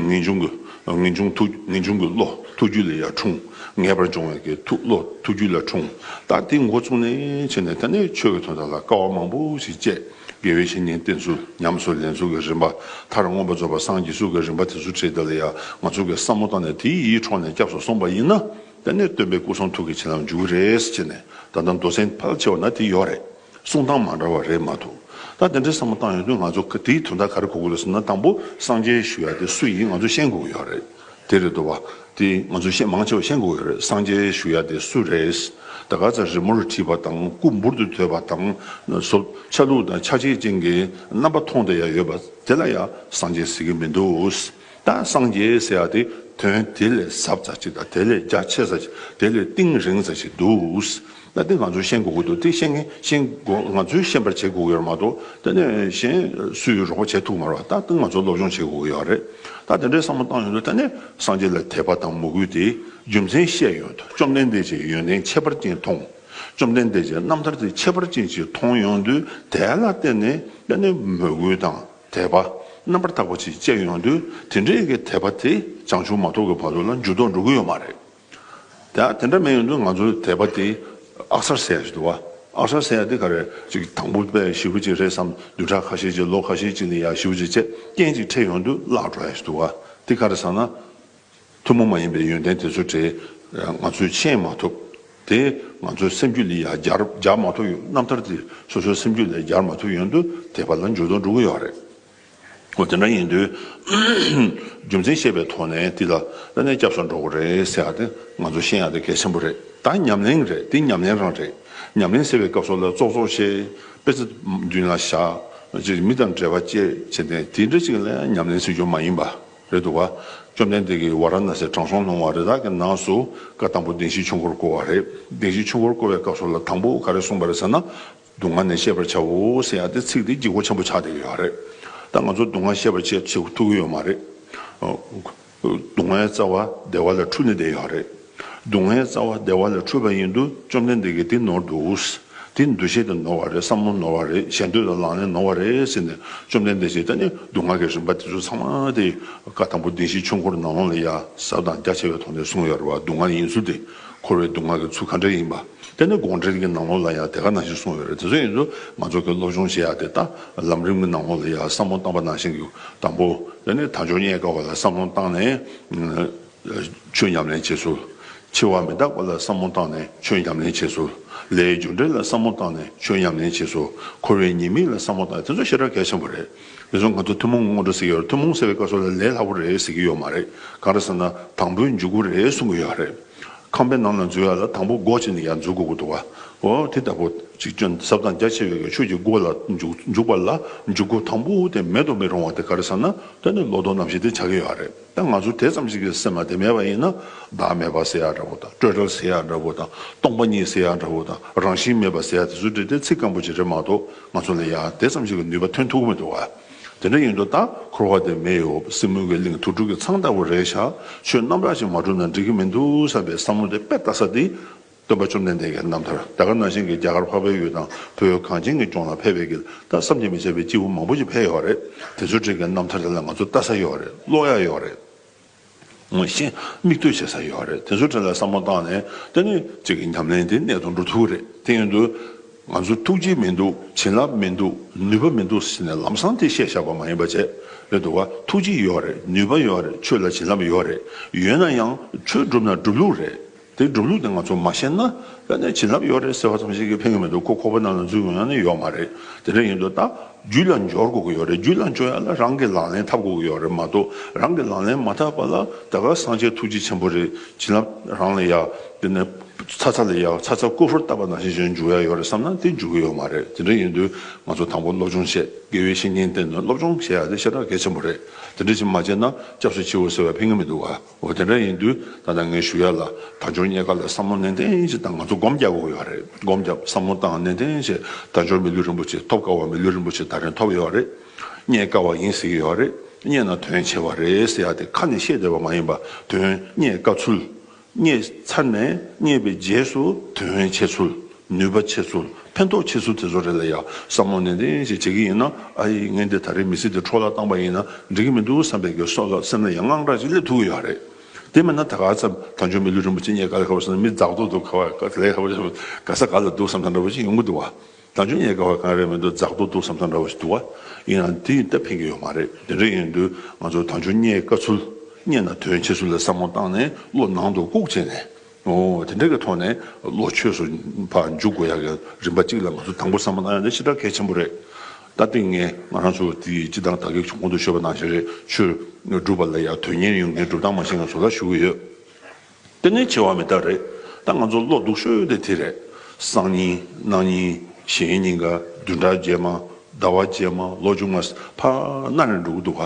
ངེས་འབྱུང་གི་ངེས་འབྱུང་ཐུགས་ངེས་འབྱུང་གི་བློ་ཐུགས་རྒྱུད་ལས་ཡར་འཁྲུངས་ངེས་པར་འབྱུང་བའི་གི་ཐུགས་བློ་ཐུགས་རྒྱུད་ལས་འཁྲུངས་ད་དེ་མགོ་བཙུགས་ནས་ཕྱིན་ནས་དེ་ནས་ཆོས་ཀྱི་དོན་དག་ལ་དཀའ་བ་མང་པོ་ཞིག་སྤྱད་དགེ་བའི་བཤེས་གཉེན་བསྟེན་ཚུལ་ཉམས་སུ་ལེན་ཚུལ་གྱི་རིམ་པ་མཐར་མངོན་པར་རྫོགས་པར་སངས་རྒྱས་ཚུལ་གྱི་རིམ་པ་དེ་ཚུལ་ཁྲིད་དེ་ལ་ཡང་ང་ཚོ་གི་བསམ་བློ་བཏང་ནས་དེའི་ཡིད་འཕྲོག་ནས་སྐྱབས་སུ་སོང་པ་ཡིན་ན། དེ་ནས་སྟོན་པས་སྐུ་གསུང་ཐུགས་ཀྱི་བྱིན་རླབས་འཇུག་གི་རེད་ཅེས་ནས་ད་ལྟ་མདོ་སེང་ཕལ་ཆེ་བ་ན་དེ་ཡོད་རེད། གསུང་སྟངས་མ་འདྲ་བ་རེད་མ་ཐུག་ད་དེ་འདྲའི་བསམ་བློ་བཏང་ཡོང་དུས་ང་ཚོ་དེའི་དོན་དག་ག་རེ་གོ་དགོས་ལ་སོང་ན་དང་པོ་སངས་རྒྱས་ཞུ་ཡ་དེ་སུ་ཡིན་ང་ཚོ་ཤེས་དགོས་ཀྱི་ཡོད་རེད་དེ་རེད་དོ་བ། དེ་ང་ཚོ་ཤེས་མང་ཆེ་བ་ཤེས་དགོས་ཀྱི་ཡོད་རེད་སངས་རྒྱས་ཞུ་ཡ་དེ་སུ་རེད། ད་ག་ཚད་རི་མོ་རུ་བྲིས་པ་དང་སྐུ་འབུར་དུ་དོད་པ་དང་སོབ་ཆ་ལུགས་དང་ཆ་བྱད་ཅན་གྱི་རྣམ་པ་མཐོང་དེ་ཡ་ཡོད་པ་དེ་ལ་ཡ་སངས་རྒྱས་ཟེར་གྱི་མི་འདུག། དང་སངས་རྒྱས་ཟེར་བ་དེ་དོན་དེ་ལས་ཟབ་ས་ཅིག་དང་དེ་ལས་རྒྱ་ཆེ་ས་ཅིག་དེ་ལས་གཏིང་རིང་ས་ཅིག་འདུག་ད་དེ་ང་ཚོས་ཤེས་དགོས་ཀྱི་འདུག་དེ་ཤེས་ཤེས་དགོས་ང་ཚོས་ཤེས་པར་བྱེད་དགོས་ཀྱི་ཡོད་མ་གཏོགས་ད་ནི་གཞན་སུས་རོགས་པ་བྱེད་ཐུབ་མ་རེད་ད་ང་ཚོས་སློབ་སྦྱོང་བྱེད་དགོས་ཀྱི་ཡོད་རེད་ད་དེ་འདྲའི་བསམ་བློ་བཏང་ཡོང་དུས་ད་ནི་སངས་རྒྱས་ལ་དད་པ་དང་མོས་གུས་དེའི་རྒྱུ་མཚན་ཤེས་ཡོང་དུས་བཅོམ་ལྡན་འདས་ཀྱི་ཡོན་ཏན་ཁྱད་པར་ཅན་མཐོང་བཅོམ་ལྡན་འདས་ཀྱི་རྣམ་ཐར་དེ་ཁྱད་པར་ཅན་ཅིག་མཐོང་ཡོང་དུས་དེ་ལ་བརྟེན་ནས་ད་ནི་མོས་གུས་དང། དད་པ་རྣམ་པར་དག་པ་ཅིག་སྐྱེ་ཡོང་དུས་དེ་འདྲའི་གི་དད་པ་དེ་བྱང་ཆུབ་མ་ཐོབ་ཀི་བར་དུ་ལ་འགྱུར་ལྡོག་འགྲོ་གི་ཡོད་མ་རེད། དེ་དེ་འདྲ་མེད་ཡོང་དུས་ང་ཚོའི་དད་པ་དེ་ཨག་སར་ཟད་ཅིག་འདུག་བ་ཨག་སར་ཟད་ཡ་དེ་ག་རེ་ཅིག་དང་པོ་པའི་ཞི་བ་ཅིག་རེད་བསམ་བདུན་ཕྲག་ཁ་ཤས་ཅིག་ལོ་ཁ་ཤས་ཅིག་ནི་ཡ་ཞི་བ་ཅིག་བཅས་རྐྱེན་ཅིག་འཕྲད་ཡོང་དུས་བརླག་འགྲོ་ཡ་ཞིག་འདུག་བ་དེ་ག་རེ་བསམ་ན། ཐུན་མོང་མ་ཡིན་པའི་ཡོན་ཏན་དེ་ཚོ་དེ་ང་ཚོས་མཁྱེན་མ་ཐུབ། དེ་ང་ཚོའི་སེམས་རྒྱུད་ལས་ཡང་བསྒྱར་མ་ཐུབ་ཡོད། རྣམ་ཐར་འདིས་སོ་སོའི་སེམས་རྒྱུད་ལས་བསྒྱར་མ་ཐུབ་ཡོད་དུ་དེ་བར་ལ་འཇུག་དང་འགྲོ་གི་ཡོད་རེད། འོ་དེ་འདྲ་ཡིན་དུས་རྒྱུ་མཚན་ཤེས་པའི་ཐོག་ནས་འདི་ལ་ལ་ནས་སྐྱབས་སུ་འགྲོ་གི་རེད་ཟེར་བ་དེ་ང་ཚོ་ཤེས་ཡག་དེ་གལ་ཆེན་པོ་རེད། ད་ཉམས་ལེན་རེད་འདི་ཉམས་ལེན་རང་རེད། ཉམས་ལེན་ཟེར་བའི་སྐབས་སོགས་ལ་ཙོག་ཙོག་བྱེད། དཔེ་ཚ་མདུན་ལ་བཞག། མི་དང་འབྲེལ་བ་བཅད་བྱེད་དེ་འདྲ་ཅིག་ལ་ཡང་ཉམས་ལེན་ཟེར་རྒྱུ་མ་ཡིན་པ། རེད་འདུག་བཅོམ་ལྡན་འདས་ཀྱིས་ཝཱ་ར་ན་སའི་དྲང་སྲོང་ལུང་བ་རེ་དག་གི་ནང་སུ་ཀ་དང་པོ་གདན་བཞིའི་ཆུ་འཁོར་བསྐོར་བ་རེད། གདན་བཞིའི་ཆུ་འཁོར་བསྐོར་བའི་སྐབས་སུ་ལ་དང་པོ་ག་རེ་གསུངས་པ་རེད་ཟེར་ན། སྡུག་བསྔལ་ནས་ཤེས་པར་བྱའོ་ཟེར་ཡང་དེ་ཚིག་དེ་སྒྱིད་སྒོ་ཆེན་པོ་ཆགས་བསྡད་ཀྱི་ཡོད་རེད། ད་ང་ཚོ་སྡུག་བསྔལ་ཤེས་པར་བྱེད་ཐུབ་ཀྱི་ཡོད་མ་རེད། སྡུག་བསྔལ་རྩ་བ་བདེ་བ་ལ་འཁྲུལ་ནས་བསྡད་ཡོད་རེད། སྡུག་བསྔལ་རྩ་བ་བདེ་བ་ལས་འཁྲུལ་པ་ཡིན་དུ་བཅོམ་ལྡན་འདས་ཀྱིས་འདི་ནོར་འདུག། འདི་འདུ་ཤེས་དེ་ནོར་བ་རེད་བསམ་བློ་ནོར་བ་རེད་ཞེ་འདོད་དང་ལངས་ནས་ནོར་བ་རེད་ཟེར་ནས་བཅོམ་ལྡན་འདས་ཀྱིས་ད་ནི་སྡུག་བསྔལ་གྱི་རིམ་པ་དེ་ཚོ་ཚང་མ་དེ་བཀའ་དང་པོ་བདེན་བཞིའི་ཆོས་འཁོར་ནང་ལོགས་ལ་ཡ་གཟབ་དང་རྒྱ་ཆེ་བའི་ཐོག་ནས་གསུངས་ཡོད་རེད་བ་སྡུག་བསྔལ་ཡིན་ཚུལ་དེ་འཁོར་བའི་སྡུག་བསྔལ་གྱི་ཚུལ་ག་འདྲ་ཡིན་པ་དེ་ནི་དགོངས་འགྲེལ་གྱི་ནང་ལོགས་ལ་ཡང་དེ་ག་ནང་བཞིན་གསུངས་ཡོད་རེད་དེ་ཚོ་ཡིན་དུ་ང་ཚོ་གི་སློབ་སྦྱོང་བྱེད་ཡ་དེ་དང་ལམ་རིམ་གྱི་ནང་ལོགས་ལ་ཡ་བསམ་བློ་བཏང་བ་ནང་བཞིན་གྱི་དང་པོ་དེ་ནི་དང་ཅོ་རྙེད་དཀའ་བ་ལ་བསམ་བློ་བཏང་ནས་ཆོས་ཉམས་ལེན་བྱེད་ཚུལ། འཆི་བ་མི་རྟག་པ་ལ་བསམ་བློ་བཏང་ནས་ཆོས་ཉམས་ལེན་བྱེད་ཚུལ། ལས་ཡུལ་འབྱུང་འབྲས་ལ་བསམ་བློ་བཏང་ནས་ཆོས་ཉམས་ལེན་བྱེད་ཚུལ། འཁོར་བའི་ཉེས་དམིགས་ལ་བསམ་བློ་བཏང་དེ་ཚོ་ཤེས་རབ་གལ་ཆེན་པོ་རེད། དེ་ཚོ་ང་ཚོ་ཐུན་མོང་ངོ་སྤྲོད་ཟེར་གྱི་ཡོད་ཐུན་མོང་ཟེར་བའི་སྐབས་སུ་ལ་ལས་སླ་པོ་རེད་ཟེར་གྱི་ཡོད་མ་རེད་གང་རེད་ཟེར་ན་དང་པོའི་འཇུག་སྒོ་རེད་གསུང་གི་ཡོད་རེད། ཁང་པའི་ནང་ལ་འཛུལ་ཡ་ལ་དང་པོ་སྒོ་ཕྱེ་ནས་ཡར་འཛུལ་དགོས་ཀྱི་འདུག་ཨོ་དེ་ལྟ་བུ་གཅིག་གྱོན་གཟབ་དང་རྒྱ་ཆེ་བའི་གི་ཆོས་ཀྱི་སྒོ་ལ་འཇུག་པ་ལ་འཇུག་སྒོ་དང་པོ་དེ་མེད་དུ་མི་རུང་བ་དེ་ག་རེ་ཟེར་ན་དོན་དུ་ལོ་ཏོག་རྣམ་བཞི་དེ་ཆགས་ཀྱི་ཡོད་རེད། ད་ང་ཚོ་དེ་ཙམ་ཞིག་གི་སེམས་པ་དེ་མེད་པ་ཡིན་ན་བདག་མེད་པ་ཟེར་ཡག་འདྲ་བོ་དང་སྤྲོས་བྲལ་ཟེར་ཡག་འདྲ་བོ་དང་སྟོང་པ་ཉིད་ཟེར་ཡག་འདྲ་བོ་དང་རང་བཞིན་མེད་པ་ཟེར་ཡག་དེ་ཚོ་འདྲི་དེ་ཚིག་སྐམ་པོ་ཅིག་རེད་མ་གཏོགས་ང་ཚོ་ལ་ཡང་དེ་ཙམ་ཞིག་གི་ནུས་པ་ཐོན་ཐུབ་ཀྱི་མི་འདུག་བ། དེ་འདྲ་ཡིན་དུ་ད་འཁོར་བ་དེ་མེ་ཡོ་སྲིན་མུ་གེ་གླིང་དུར་ཁྲོད་ཀྱི་ཚང་ལྟ་བུ་རེད་ཤག་ཆོས་རྣམ་དག་ཅིག་མ་གྲུབ་ན་འགྲིག་གི་མི་འདུག་བསམ་པའི་བསམ་བློ་དེ་དཔེ་ལྟ་ས་འདི་སྟོན་པ་བཅོམ་ལྡན་འདས་ཀྱི་རྣམ་ཐར་ད་ག་ནང་བཞིན་གྱི་རྒྱ་གར་འཕགས་པའི་ཡུལ་དང་བོད་གངས་ཅན་གྱི་ལྗོངས་ལ་ཕལ་པའི་གིར་ད་བསམ་གྱིས་མི་ཁྱབ་པའི་སྐྱེས་བུ་མང་པོ་ཞིག་ཕལ་ཡོད་རེད་དེ་ཚོའི་བྲིས་ཀྱི་རྣམ་ཐར་དེ་ལ་ང་ཚོ་ལྟ་ས་ཡོད་རེད་ཀློག་ཡ་ཡོད་རེད་ངོ་ཤེས་མིག་ལྟོས་བྱེད་ས་ཡོད་རེད་དེ་ཚོའི་གྲས་ལ་བསམ་བློ་བཏང་ནས་ལྟ་ནི་གཅིག་གི་ཉམས་ལེན་དེ་གནད་དུ་འགྲོ་ཐུབ་རེད་དེ་ཡིན་དུས་ང་ཚོ་ཐུགས་རྗེ་མི་འདུག་བྱིན་རླབས་མི་འདུག་ནུས་པ་མི་འདུག་ཟེར་ནས་ལམ་སང་དེ་བཤད་བཞག་པ་མ་ཡིན་པ་བྱས་ཡོད་འདུག་ག་ཐུགས་རྗེ་ཡོད་རེད་ནུས་པ་ཡོད་རེད་ཆོས་ལ་བྱིན་རླབས་ཡོད་རེད་ཡོད་ན་ཡང་ཆོས་སྒྲུབ་ན་སྒྲུབ་ལུགས་རེད། དེའི་སྒྲུབ་ལུགས་དེ་ང་ཚོར་མ་ཤེས་ན། ཡང་ན་བྱིན་རླབས་ཡོད་རེད་ཟེར་བ་ཙམ་ཞིག་གིས་ཕན་གི་མི་འདུག་ཁོ་ཁོ་པ་རྣམས་ལ་འཛུལ་དགོས་ཡང་ན་ཡོད་མ་རེད། དེ་འདྲ་ཡིན་དུས་ད། རྒྱུད་ལ་འབྱོར་དགོས་ཀྱི་ཡོད་རེད་རྒྱུད་ལ་འབྱོར་ཡག་ལ་རང་གིས་ལག་ལེན་ཐབས་དགོས་ཀྱི་ཡོད་རེད་མ་གཏོགས་རང་གིས་ལག་ལེན་མ་ཐབས་པ་ལ་ད་ག་སངས་རྒྱས་ཐུགས་རྗེ་ཆེན་པོ་རེད་བྱིན་རླབས་རང་ལ་ཡག་དེ་ནས། ཚ་ཚ་ལ་ཡག་ཚ་ཚ་རྐུ་ཕོར་བཏབ་པ་ནང་བཞིན་བཞིན་འཇུག་ཡག་ཡོད་རེད་བསམ་ན་དེ་འཇུག་གི་ཡོད་མ་རེད་དེ་འདྲ་ཡིན་དུས་ང་ཚོ་དང་པོ་སློབ་སྦྱོང་བྱེད་དགེ་བའི་བཤེས་གཉེན་བསྟེན་ནས་སློབ་སྦྱོང་བྱེད་ཡག་དེ་ཤ་སྟག་གལ་ཆེན་པོ་རེད་དེ་འདྲ་བྱེད་མ་བྱེད་ན་སྐྱབས་སུ་མཆིའོ་ཟེར་བ་ཕན་གི་མི་འདུག་ག། འོ་དེ་འདྲ་ཡིན་དུས་ད་ལྟ་ངས་ཞུ་ཡ་ལ་དར་ལྕོར་རྙེད་དཀའ་ལ་བསམ་བློ་ནན་ཏན་ཅིག་བཏང་ང་ཚོ་སྒོམ་རྒྱག་དགོས་ཀྱི་ཡོད་རེད་སྒོམ་རྒྱག་བསམ་བློ་བཏང་ནན་ཏན་བྱས་དར་ལྕོར་མི་ལུས་རིན་པོ་ཆེ་ཐོབ་དཀའ་བ་མི་ལུས་རིན་པོ་ཆེ་ད་རིང་ཐོབ་ཡོད་རེད་རྙེད་དཀའ་བ་ཡིན་ཟེར་གྱི་ཡོད་རེད་རྙེད་ན་དོན་ཆེ་བ་རེད་ཟེར་ཡ་དེ་ཁ་ནས་བཤད་བསྡད་པ་མ་ཡིན་པ་དོན་རྙེད་དཀའ་ཚུལ། རྙེད་ཚར་ནས་རྙེད་པའི་རྗེས་སུ་དོན་བྱས་ཚུལ། ནུས་པ་ཆེ་ཚུལ་ཕན་ཐོགས་ཆེ་ཚུལ་དེ་ཚོ་རེད་ལ་ཡ་བསམ་བློ་ནན་ཏན་ཞིག་བྱེད་ཀྱི་ཡིན་ན་ཨ་ཡེ་ངས་འདི་ད་རེས་མི་ཚེ་འདི་འཕྲོ་བརླག་བཏང་པ་ཡིན་ན་འགྲིག་གི་མི་འདུག་བསམ་པའི་གེ་སོ་ལ་སེམས་ལ་ཡང་དངངས་སྐྲག་ཅིག་སླེབས་ཐུབ་ཀྱི་ཡོད་རེད། དེ་མིན་ན་ད་ག་ཚབ་ད་འཇོན་མི་ལུས་རིན་པོ་ཆེ་རྙེད་ག་ལ་ག་བ་བསམ་ན་མི་རྫག་རྡོག་རྡོག་ག་བ་ལས་ག་བ་ག་ས་ག་ལ་འདུག་བསམ་ས་འདྲ་བོ་ཞིག་ཡོང་གི་འདུག་ད་འཇོན་རྙེད་ག་བ་གང་རེད་མི་འདུག་རྫག་རྡོག་འདུག་བསམ་ས་འདྲ་བོ་ཞིག་འདུག་ཡིན་ན་དེ་ཡིན་སྟབས་ཕན་གྱི་ཡོད་མ་རེད་དེ་འདྲ་ཡིན་དུས་ང་ཚོ་ད་འཇོན་རྙེད་ག་ཚུལ་རྙེད་ན་དོན་ཆེ་ཚུལ་ལ་བསམ་བློ་བཏང་ནས་བློ་ནང་དུ་བཀུག་བྱས་ནས། དེ་འདྲ་གི་ཐོག་ནས་བློ་ཆོས་སུ་འཕགས་འཇུག་དགོས་ཡག་གི་རིམ་པ་གཅིག་ལ་ང་ཚོ་དང་པོ་བསམ་བློ་གནང་ཡག་འདི་ཕྱི་དར་གལ་ཆེན་པོ་རེད་ད་ཏིང་ངེ་ང་རང་ཚོ་དེ་སྤྱི་དང་དག་གི་གོང་དུ་ཤོད་པ་ནང་བཞིན་རེད་ཆོས་སྒྲུབ་པ་ལ་ཡག་དོན་གཉེར་ཡོང་གི་འགྲུབ་སྟངས་མ་ཤེས་ང་ཚོ་ལ་ཞུ་གི་ཡོད་དེ་ནས་ཆེ་བ་མི་དར་རེད་ད་ང་ཚོ་བློ་སྡུག་ཤོས་དེ་དེ་རེད་སང་ཉིན་གནངས་ཉིན་གཞན་ཉིན་ག་བདུན་ཕྲག་རྗེས་མ་ཟླ་བ་རྗེས་མ་ལོ་ཆུང་མ་ཕ་ནར་འགྲོ་གི་འདུག་ག་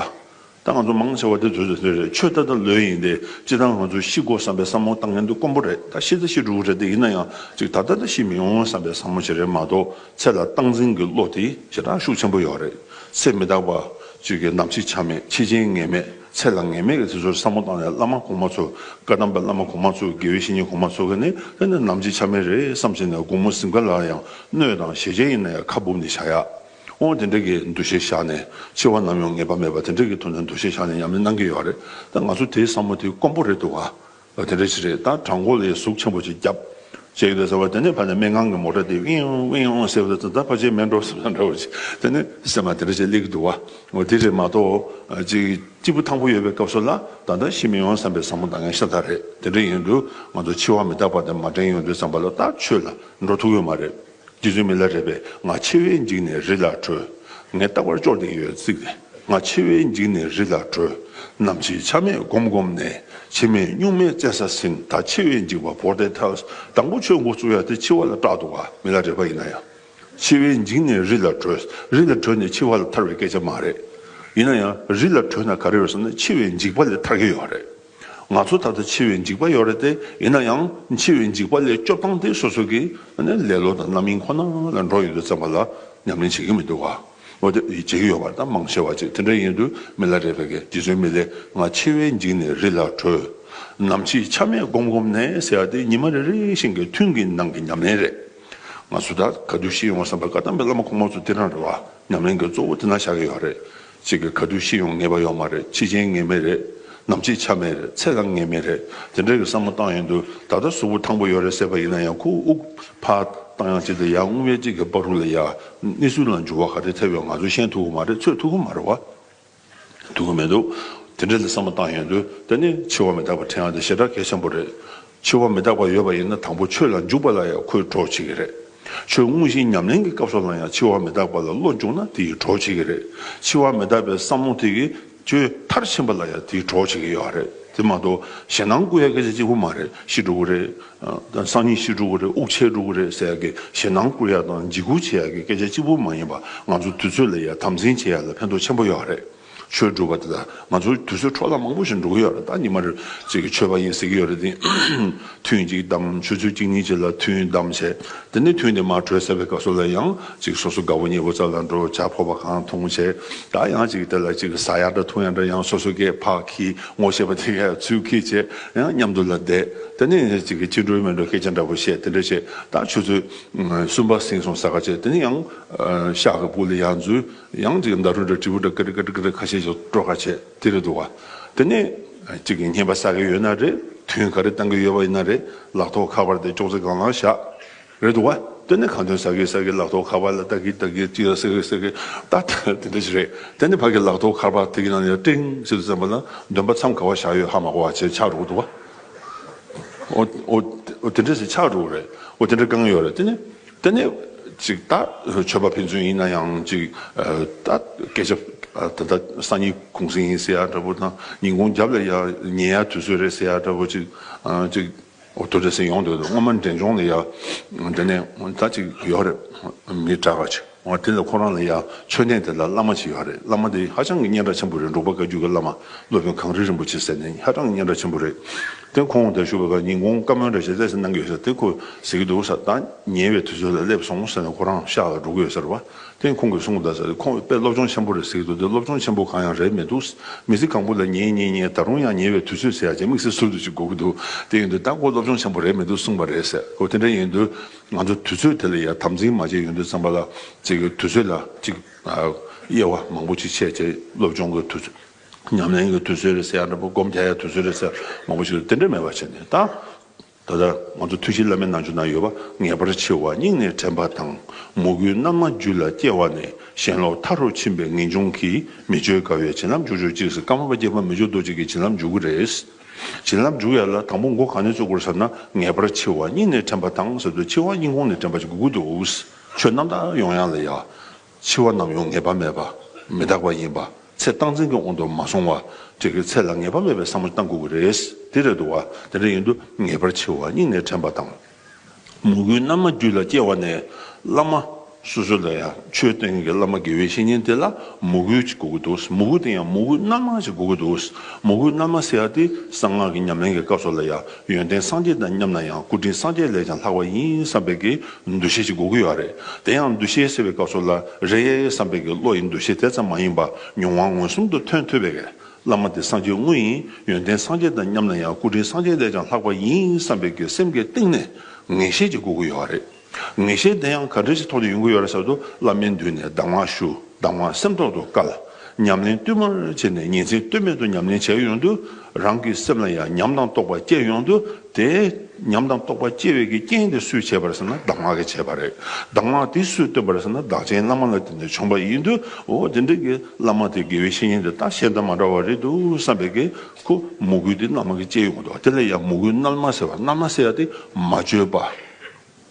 ད་ང་ཚོ་མང་ཆེ་བ་དེ་ཚོས་ཟེར་རྒྱུ་རེད་ཆོས་ད་ལྟ་ལོས་ཡིན་ཏེ་སྤྱིར་བཏང་ང་ཚོས་ཤི་དགོ་བསམ་པའི་བསམ་བློ་ད་ངན་དུ་དཀོན་པོ་རེད་ད་ཤི་ཚེ་ཤི་འགྲོ་གི་རེད་དེ་ཡིན་ན་ཡང་ཅིག་ད་ལྟ་ལྟ་ཤི་མི་འོང་བསམ་པའི་བསམ་བློ་བྱེད་རེད་མ་གཏོགས་ཚེ་ལ་སྟངས་འཛིན་གྱི་བློ་དེ་ཞེ་དྲག་ཤུགས་ཆེན་པོ་ཡོད་རེད་ཚེ་མི་རྟག་པ། ཅིག་གི་ནམ་ཕྱི་ཆ་མེད་ཕྱི་རྐྱེན་ངེས་མེད་ཚེ་ལ་ངེས་མེད་ཀྱི་དེ་ཚོར་བསམ་བློ་བཏང་ནས་བླ་མ་གོང་མ་ཚོ་བཀའ་གདམས་པའི་བླ་མ་གོང་མ་ཚོ་དགེ་བའི་བཤེས་གཉེན་གོང་མ་ཚོ་གི་ནི་དེ་ནི་ནམ་ཕྱི་ཆ་མེད་རེད་བསམ་བཞིན་ནས་དགུང་མོ་ཟིམ་ག་ལ་ཡང་གནོད་དང་ཞེ་ཆེན་ཡིན་ན་ཡང་ཁ་སྦུབ་ནས་བཞག་ཡག། ཨོང་དེ་འདྲས་ཀྱི་འདུ་ཤེས་བཞག་ནས་འཆི་བ་ནམ་ཡང་ངེས་པ་མེད་པ་དེ་འདྲས་ཀྱི་ཐོག་ནས་འདུ་ཤེས་བཞག་ནས་ཉམས་ལེན་གནང་གི་ཡོད་རེད་ད་ང་ཚོ་དེའི་བསམ་བློ་དེ་དཀོན་པོ་རེད་འདུག་ག་དེ་འདྲས་ཞིག་རེད་ད་བྲག་མགོ་ལས་གཟུགས་ཆེན་པོ་ཅིག་བརྒྱབ་བྱས་ཡོད་རེད་ཟེར་བ་དེ་ནས་ཕ་ནས་སྨྲེ་སྔངས་ཀྱི་མོ་ཏྲ་དེ་ཝིང་ཨོང་ཝིང་ཨོང་ཟེར་བ་དེ་ད་ཕ་ཆེ་སྨད་འགྲོ་ཟེར་བ་འདྲ་བོ་ཅིག་དེ་ནས་སེམས་མ་དེ་འདྲས་ཅིག་སླེབས་ཀྱི་འདུག་ག་དེ་རེད་མ་གཏོགས་ཅིག་སྐྱིད་པོ་ཐང་པོ་ཡོད་པའི་སྐབས་སུ་ལ་ད་ལྟ་ཤི་མི་ཡོང་བསམ་པའི་བསམ་བློ་འདང་ངེས་ཤ་སྟག་རེད་དེ་འདྲས་ཡིན་དུས་ང་ཚོ་འཆི་བ་མི་རྟག་པ་དེ་མ་དྲན་ཡོང་དུས་བསམ་པ་ལ་ད་ཆོས་ལ་འགྲོ་ཐུག་ཡོད་མ་རེད། རྗེ་བཙུན་མི་ལ་རས་པས་ང་འཆི་བས་འཇིགས་ནས་རི་ལ་བྲོས། ངས་རྟག་པར་ཅོག་ཙེ་ཡོད་བརྩིགས་ཏེ་ང་འཆི་བས་འཇིགས་ནས་རི་ལ་བྲོས། ནམ་འཆི་ཆ་མེད་བསྒོམ་བསྒོམ་ནས་འཆི་མེད་གཉུག་མའི་རྩེ་ས་ཟིན་ད་འཆི་བས་འཇིགས་པ་བོར་ཏེ་ཐལ། དང་པོ་ཆོས་འགོ་བཙུགས་ཡ་དེ་འཆི་བ་ལ་སྐྲག་འདུག་ག་མི་ལ་རས་པ་ཡིན་ན་ཡང། འཆི་བས་འཇིགས་ནས་རི་ལ་བྲོས། རི་ལ་བྲོས་ནས་འཆི་བ་ལ་ཐར་བའི་སྐད་ཆ་མ་རེད། ཡིན་ན་ཡང་རི་ལ་བྲོས་ན་ག་རེ་ཡོད་ཟེར་ན་འཆི་བས་འཇིགས་པ་ལས་ཐར་གི་ཡོད་རེད། ང་ཚོ་ད་ལྟ་འཆི་བའི་འཇིགས་པ་ཡོད་རེད་དེ། ཡིན་ན་ཡང་འཆི་བའི་འཇིགས་པ་ལས་སྐྱོབ་སྟངས་དེ་སོ་སོ་གི་ལེ་ལོ་དང་རྣམ་གཡེང་ཁོ་ན་ལ་འགྲོ་ཡི་འདུག་བཙན་པ་ལ་ཉམས་ལེན་བྱེད་ཀྱི་མི་འདུག་བ། བྱེད་ཀྱི་ཡོད་པ་དང་མང་ཆེ་བ་ཅིག་དེ་འདྲ་ཡིན་དུས་མི་ལ་རེ་བས་གས་འདི་ཚོའི་མི་ལས་ང་འཆི་བའི་འཇིགས་ནས་རི་ལ་བྲོས། ནམ་འཆི་ཆ་མེད་སྒོམ་སྒོམ་ནས་ཟེར་ཡ་དེ་ཉི་མ་རེ་རེ་བཞིན་གྱི་ཐུན་གྱི་ནང་གི་ཉམས་ལེན་རེད། ང་ཚོ་ད་ག་དུས་ཤི་ཡོང་བསམ་པའི་བཀའ་གདམས་པའི་བླ་མ་ཁོང་མོ་ཚོ་དེ་འདྲ་རེད་བ། ཉམས་ལེན་གྱི་གཙོ་བོ་དེ་ན་བཞག་གི་ཡོད་རེད། ཅིག་གི་ག་དུས་ཤི་ཡོང་ངེས་པ་ཡོད་མ་རེད་ཁྱི་རྒྱན་ངེས་མེད་རེད་ནམ་ཚིག་ཆ་མེད་རེད་ཚེ་རང་ངེས་མེད་རེད་དེ་འདྲའི་གི་བསམ་བློ་བཏང་ཡོང་དུས་ད་ལྟ་གཟུགས་པོ་ཐང་པོ་ཡོད་རེད་ཟེར་བ་ཡིན་ན་ཡང་ཁུག་ཨུག་ཕ་བཏང་ཡང་ཅིག་དང་ཡར་སྔོན་བས་ཅིག་གི་པགས་རུ་ལ་ཡར་སྣེ་སུ་ལ་འཇུ་བ་ག་རེ་ཐེབས་ཡོང་ང་ཚོ་ཤེས་ཐུག་གི་མ་རེད་ཚོད་ཐུག་གི་མ་རེད་བ་ཐུག་གི་མེད་འདུག་དེ་འདྲའི་གི་བསམ་བློ་བཏང་ཡོང་དུས་ད་ནི་འཆི་བ་མི་རྟག་པ་ཁྲེང་ཡང་དེ་ཞེ་དྲག་གལ་ཆེན་པོ་རེད་འཆི་བ་མི་རྟག་པ་ཡོད་པ་ཡིན་ན་དང་པོ་ཆོས་ལ་འཇུག་པ་ལ་ཡང་ཁོས་གྲོགས་བྱེད་ཀྱི་རེད། ཆོས་མངོན་ཞིང་ཉམས་ལེན་གྱི་སྐབས་སུ་ལ་ཡང་འཆི་བ་མི་རྟག་པ་ལ་བློ་འཇུག་ན་དེ་ཡིས་གྲོགས་བྱེད་ཀྱི་རེད། འཆི་བ་མི་རྟག་པའི་བསམ་བློ་དེ་གིས་ཆོས་མཐར་ཕྱིན་པ་ལ་ཡང་དེས་གྲོགས་བྱེད་ཀྱི་ཡོད་རེད་དེ་མ་གཏོགས་ཞེ་སྣང་སྐུལ་བའི་སྐད་ཆ་གཅིག་པུ་མ་རེད་ཤི་འགྲོ་གི་རེད། སང་ཉིན་ཤི་འགྲོ་གི་རེད་དབུགས་ཆད་འགྲོ་གི་རེད་ཟེར་ཡག་གི་ཞེ་སྣང་སྐུལ་ཡག་དང་འཇིགས་སྐུལ་བྱེད་ཡག་གི་སྐད་ཆ་གཅིག་པུ་མ་ཡིན་པར་ང་ཚོ་དུས་ཚོད་ལ་ཡང་དམ་འཛིན་བྱེད་ཡག་ལ་ཕན་ཐོགས་ཆེན་པོ་ཡོད་རེད། ཆོས་སྒྲུབ་པ་དེ་དག་ང་ཚོ་དུས་ཚོད་འཕྲོ་བརླག་མང་པོ་ཞིག་འགྲོ་གི་ཡོད་རེད་ད་ཉི་མ་རེར་ཅིག་ཆོས་པ་ཡིན་ཟེར་གྱི་ཡོད་རེད་དེ། ཐུན་གཅིག་བདམས་ཆུ་ཚོད་གཅིག་གཉིས་བཅས་ལ་ཐུན་བདམས་བྱས་དེ་ནས་ཐུན་དེ་མ་གྲོལ་ཟེར་བའི་སྐབས་སུ་ལ་ཡང་ཅིག་སོ་སོ་དགའ་བོ་ཉེ་བོ་རྩ་ལ་འགྲོ་བྱ་ཕོར་པ་གང་འཐུང་བྱས་ད་ཡང་ཅིག་དེ་ལ་ཅིག་ཟ་ཡག་འདྲ་འཐུང་ཡག་འདྲ་ཡང་སོ་སོ་སྐྱེས་ཕག་གིས་ངོ་ཤེས་པ་དེ་གས་ཚུལ་གྱིས་བྱས་ཡང་མཉམ་དུ་ལ་བསྡད་དེ་ནས་ཅིག་ཅི་འགྲོའི་མི་འགྲོ་སྐད་ཆ་འདྲ་པོ་བཤད་དེ་འདྲ་བྱས་ད་ཆུ་ཚོད་གསུམ་པ་ཟིན་སོང་ཟ་ག་བྱས་དེ་ནས་ཡང་ཤག་གི་སྤུ་ལ་ཡང་འཛུལ། ཡང་ཅིག་མདའ་ཧྲུལ་ཧྲུལ་དྲིལ་བུ་འདྲ་ཀིར་ཀིར་ཀིར་ཁ་ཤས་ཤིག་སྤྲོ་དགའ་བྱས་དེ་རེད་འདུག་ག་དེ་ནས་ཅིག་གིས་ཉན་པ་ཟ་གི་ཡོད་ན་རེད་དོན་ག་རེ་བཏང་གི་ཡོད་པ་ཡིན་ན་རེད་ལག་ཐོག་ཁ་པར་དེ་ཅོག་ཙེ་སྒང་ལ་བཞག་རེད་འདུག་ག་དེ་ནས་གང་དོན་ཟ་གི་ཟ་གི་ལག་ཐོག་ཁ་པར་ལ་ལྟ་གི་ལྟ་གི་ཅིག་ལ་ཟེར་གི་ཟེར་གི་ད་ལྟ་དེ་འདྲ་ཞིག་རེད་དེ་ནས་ཕ་གིས་ལག་ཐོག་ཁར་པར་དེ་གི་ནང་ནས་ཀྲིང་ཞིག་ཏུ་བཙན་པ་ན་འདོན་པ་མཚམས་ག་བ་བཞག་ཡོད་ཧ་མ་གོ་བ་བྱས་ཆགས་འགྲོ་གི་འདུག་ག་འོ་འོ་འོ་དེ་འདྲ་ཞིག་ཆགས་འགྲོ་གི་རེད་འོ་དེ་འདྲ་བསྐང་གི་ཡོད་རེད་དེ་ནས། དེ་ནས། ཅིག་ལྟ་ཆོས་པ་ཕན་ཚུན་ཡིན་ན་ཡང་ཅིག་ལྟ། སྐད་ཆ་ད་ལྟ་སང་ཉིན་གུང་སེང་ཡིན་ཟེར་ཡ་འདྲ་བོ་དང་ཉིན་གུང་རྒྱབ་ལ་ཡང་ཉེ་ཡ་དུས་ཚོད་རེད་ཟེར་ཡ་འདྲ་བོ་ཅིག་ཅིག། དོ་འདྲ་ཟེར་ཡོང་འདོད་དོ་སྔོན་མ་འདྲེན་སྦྱོང་ལ་ཡང་འདྲེན་ནས་ད་ཅིག་ཡོད་རེད། མི་དྲག་ག་ཅིག་འོང་དེ་ལ་ཁོ་རང་ལ་ཡང་ཆོས་ལྡན་དེ་ལ་བླ་མ་ཅིག་ཡོད་རེད་བླ་མ་དེ་ཧ་ཅང་གི་སྙན་གྲགས་ཆེན་པོ་རེད་འབྲུག་པ་བཀའ་རྒྱུད་ཀྱི་བླ་མ་སློབ་དཔོན་གངས་རི་རིན་པོ་ཆེ་ཟེར་ནས་ཧ་ཅང་གི་སྙན་གྲགས་ཆེན་པོ་རེད། དེ་ཁོང་དེར་བཞུགས་པའི་སྐབས་ཉིན་གུང་བཀའ་མོལ་འདྲ་བྱེད་ཚད་ཟིན་གནང་གི་ཡོད་ཟེར་དེ་ཁོས་ཟེར་གྱི་འདུག་ས་ད་ཉེ་བའི་དུས་ཚོད་ལ་སླེབས་སོང་ཟེར་ནས་ཁོ་རང་ཤག་ལ་འགྲོ་གི་ཡོད་ཟེར་བ་དེ་ཁོང་གིས་གསུང་གི་གདའ་ཟེར་ཁོང་དཔེ་སློབ་སྦྱོང་ཆེན་པོ་རེད་ཟེར་གྱི་འདུག་དེ་སློབ་སྦྱོང་ཆེན་པོ་གང་ཡང་རེད་མི་འདུག་མི་ཚེ་གང་པོ་ལ་ཉེ་ཉེ་ཉེ་ད་རུང་ཡང་ཉེ་བའི་དུས་ཚོད་ཟེར་ཡ་ཆེན་དམིགས་བསལ་ཟུར་དུ་ཅིག་དགོས་ཀྱི་འདུག་དེ་ཡིན་དུས་ད་ཁོ་སློབ་སྦྱོང་ཆེན་པོ་རེད་མི་འདུག་གསུངས་པ་རེད་ཟེར་ཁོས་དེ་འདྲ་ཡིན་དུས་ང་ཚོ་དུས་ཚོད་དེ་ལ་ཡར་དམ་འཛིན་མ་བྱས་ཡོང་དུས་ཚང་པ་ལ་ཅིག་དུས་ཚོད་ལ་ཅིག་དབྱེ་བ་མང་པོ་ཅིག་ཕྱེས་ཏེ་སློབ་སྦྱོང་གི་དུས་ཚོད། ཉམས་ལེན་གྱི་དུས་ཚོད་རེད་ཟེར་ཡང་འདྲ་པོ་སྒོམ་བྱ་ཡི་དུས་ཚོད་རེད་ཟེར་མང་པོ་ཞིག་རེད་དེ་འདྲ་མེད་པ་བྱས་ནས་ད། ད་ལྟ་ང་ཚོ་ཐུགས་བཞེད་བླ་མའི་རྣལ་འབྱོར་ན་ཡོད་པ་ངེས་པར་ཆེ་བ་སྙིང་ནས་དྲན་པ་དང་མོས་གུས་རྣལ་མ་རྒྱུད་ལ་སྐྱེ་བ་ནས་ཞེན་ལོག་མཐའ་རུ་ཕྱིན་པའི་ངེས་འབྱུང་གིས་མི་བཅོས་དགའ་བའི་བྱིན་རླབས་འཇུག་ཆོག་གཅིག་སྐར་མ་པ་སྐྱེས་པ་མི་བཅོས་རྡོ་གཅིག་གི་བྱིན་རླབས་འཇུག་གི་རེད། བྱིན་རླབས་འཇུག་ཡ་ལ་དང་པོ་མགོ་གང་ནས་བཙུག་དགོས་ཟེར་ན་ངེས་པར་ཆེ་བ་སྙིང་ནས་དྲན་པ་དང་ཟེར་དུས་ཆེ་བ་སྙིང་ཁོང་ནས་དྲན་པ་ཞིག་དགོས་ཀྱི་འདུག་ཆོས་རྣམ་དག་ཡོང་ཡ་ལ་ཡ། འཆི་བ་ནམ་ཡང་ངེས་པ་མེད་པ། མི་རྟག་པ་ཡིན་པ། ཚེ་སྟངས་འཛིན་གྱི་དབང་དུ་མ་སོང་བ། དེ་གི་ཚེ་ལ་ངེས་པ་མེད་པའི་བསམ་བློ་གཏང་དགོས་ཀྱི་རེད། དེ་རེད་འདུག་བ། དེ་འདྲ་ཡིན་དུ་ངེས་པར་འཆི་བ་སྙིང་ནས་དྲན་པ་དང། མོས་གུས་རྣལ་མ་རྒྱུད་ལ་སྐྱེ་བ་ནས། བླ་མ། སོ་སོ་ལ་ཡང་ཆོས་བསྟན་མཁན་གྱི་བླ་མ་དགེ་བའི་བཤེས་གཉེན་དེ་ལ་མོས་གུས་ཅིག་དགོས་ཀྱི་འདུག་མོས་གུས་དེ་ཡང་མོས་གུས་རྣལ་མ་ཞིག་དགོས་ཀྱི་འདུག་མོས་གུས་རྣལ་མ་ཟེར་ཡ་དེ་གསང་སྔགས་ཀྱི་ཉམས་ལེན་གྱི་སྐབས་སོགས་ལ་ཡང་ཡོན་ཏན་སངས་རྒྱས་དང་མཉམ་ན་ཡང་སྐུ་དྲིན་སངས་རྒྱས་ལས་ཀྱང་ལྷག་པ་ཡིན་བསམ་པའི་གི་འདུ་ཤེས་ཅིག་འགོག་གི་ཡོད་རེད་དེ་ཡང་འདུ་ཤེས་ཟེར་བའི་སྐབས་སུ་ལ་རེ་ཡ་ཡ་བསམ་པའི་གི་བློ་ཡི་འདུ་ཤེས་དེ་ཙམ་མ་ཡིན་པ་མྱོང་བ་མངོན་སུམ་དུ་ཐོན་ཐུབ་པའི་གི་བླ་མ་དེ་སངས་རྒྱས་དངོས་ཡིན་ཡོན་ཏན་སངས་རྒྱས་དང་མཉམ་ན་ཡང་སྐུ་དྲིན་སངས་རྒྱས་ལས་ཀྱང་ལྷག་པ་ཡིན་བསམ་པའི་གི་སེམས་ཀྱི་གཏིང་ནས་ངེས་ཤེས་ཅིག་འགོག་གི་ཡོད་རེད། ངེས་ཤེས་དེ་ཡང་ག་འདྲ་ཞིག་ཐོག་ནས་ཡོང་གི་ཡོད་རེད་ཟེར་དུས་བླ་མའི་མདུན་ནས་གདམས་ངག་ཞུ་གདམས་ངག་སེམས་ཐོག་ཏུ་བཀལ། ཉམས་ལེན་བསྟུད་མར་བྱས་ནས་ཉིན་མཚན་ལྟོས་མེད་དུ་ཉམས་ལེན་བྱས་ཡོང་དུས་རང་གི་སེམས་ལ་ཡང་ཉམས་དང་རྟོགས་པ་སྐྱེ་ཡོང་དུས་དེ། ཉམས་དང་རྟོགས་པ་སྐྱེ་བའི་གི་རྐྱེན་དེ་སུས་བྱས་པ་རེད་ཟེར་ན་གདམས་ངག་གིས་བྱས་པ་རེད། གདམས་ངག་དེ་སུས་བཏོན་པ་རེད་ཟེར་ན་བདག་ཆེན་བླ་མ་ལ་བརྟེན་ནས་བྱུང་པ་ཡིན་དུས་འོ་དེ་འདྲའི་གི་བླ་མ་དེ་དགེ་བའི་བཤེས་གཉེན་དེ་ད་ཤེས་ལྡན་མ་འདྲ་བ་རེད་འདུག་བསམ་པའི་གི་ཁོ་མོ་གུས་དེ་བླ་མ་གིས་བསྐྱེད་ཡོང་དུས་དེ་ལ་ཡང་མོ་གུས་རྣལ་མ་ཟེར་བ་རྣལ་མ་ཟེར་ཡ་དེ་མ་བཅོས་པ།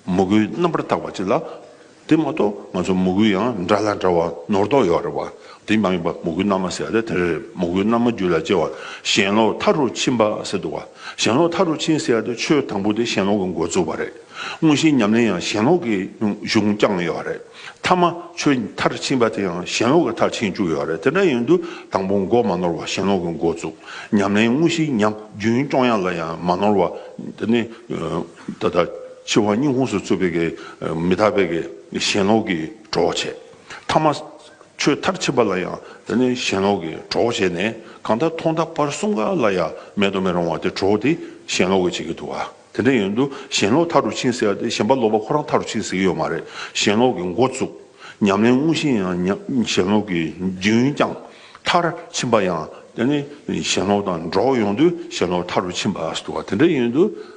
མོ་གུའི་རྣམ་པར་བརྟག་པ་ཅི་ལགས། དེ་མ་གཏོགས་ང་ཚོ་མོ་གུ་ཡང་འདྲ་ལ་འདྲ་བ་ནོར་དོགས་ཡོད་རེད་བ། དེ་མ་ཡིན་པ་མོ་གུའི་རྣམ་མ་ཟེར་ཡ་དེ་རེད་མོ་གུའི་རྣམ་མ་རྒྱུད་ལ་སྐྱེ་བ་གཞན་ལོག་མཐའ་རུ་ཕྱིན་པ་ཟེར་འདུག་བ། གཞན་ལོག་མཐའ་རུ་ཕྱིན་ཟེར་ཡ་དེ་ཆོས་དང་པོ་དེ་གཞན་ལོག་གི་འགོ་བཙུགས་པ་རེད། དངོས་གཞིའི་ཉམས་ལེན་ཡང་གཞན་ལོག་གི་གཞུང་བསྐྱངས་ཡོད་རེད། མཐའ་མ་ཆོས་མཐར་ཕྱིན་པ་དེ་ཡང་གཞན་ལོག་གི་མཐར་ཕྱིན་བཅུག་ཡོད་རེད་དེ་འདྲ་ཡིན་དུས་དང་པོ་འགོ་མ་ནོར་བ་གཞན་ལོག་གི་འགོ་བཙུགས། ཉམས་ལེན་དངོས་གཞིའི་ཉམས་རྒྱུན་སྐྱོང་ཡ་ལ་ཡང་མ་ནོར་བ། ད་ལྟ་འཆི་བ་སྙིང་ཁོངས་སུ་ཚུད་པའི་མི་རྟག་པའི་ཞེན་ལོག་གིས་གྲོགས་བྱས། མཐའ་མ། ཆོས་མཐར་ཕྱིན་པ་ལ་ཡང་དེ་ནི་ཞེན་ལོག་གིས་གྲོགས་བྱས་ནས་གང་ལྟར་ཐོག་མཐའ་བར་གསུམ་ག་ལ་ཡང་མེད་དུ་མི་རུང་བ་དེ་གྲོགས་དེ་ཞེན་ལོག་གིས་བྱེད་ཀྱི་འདུག་བ། དེ་འདྲ་ཡིན་དུས་ཞེན་ལོག་མཐར་རུ་ཕྱིན་ཟེར་བ་དེ་ཞེན་པ་ལོག་པ་ཁོ་རང་མཐར་རུ་ཕྱིན་ཟེར་གྱི་ཡོད་མ་རེད་ཞེན་ལོག་གི་འགོ་བཙུགས། ཉམས་ལེན་དངོས་གཞི་ཡང་ཞེན་ལོག་གིས་རྒྱུན་བསྐྱངས། མཐར་ཕྱིན་པ་ཡང་དེ་ནི་ཞེན་ལོག་དང་འགྲོགས་ཡོང་དུས་ཞེན་ལོག་མཐར་རུ་ཕྱིན་པ་ཟེར་བ་དེ་འདྲ་ཡིན་དུས།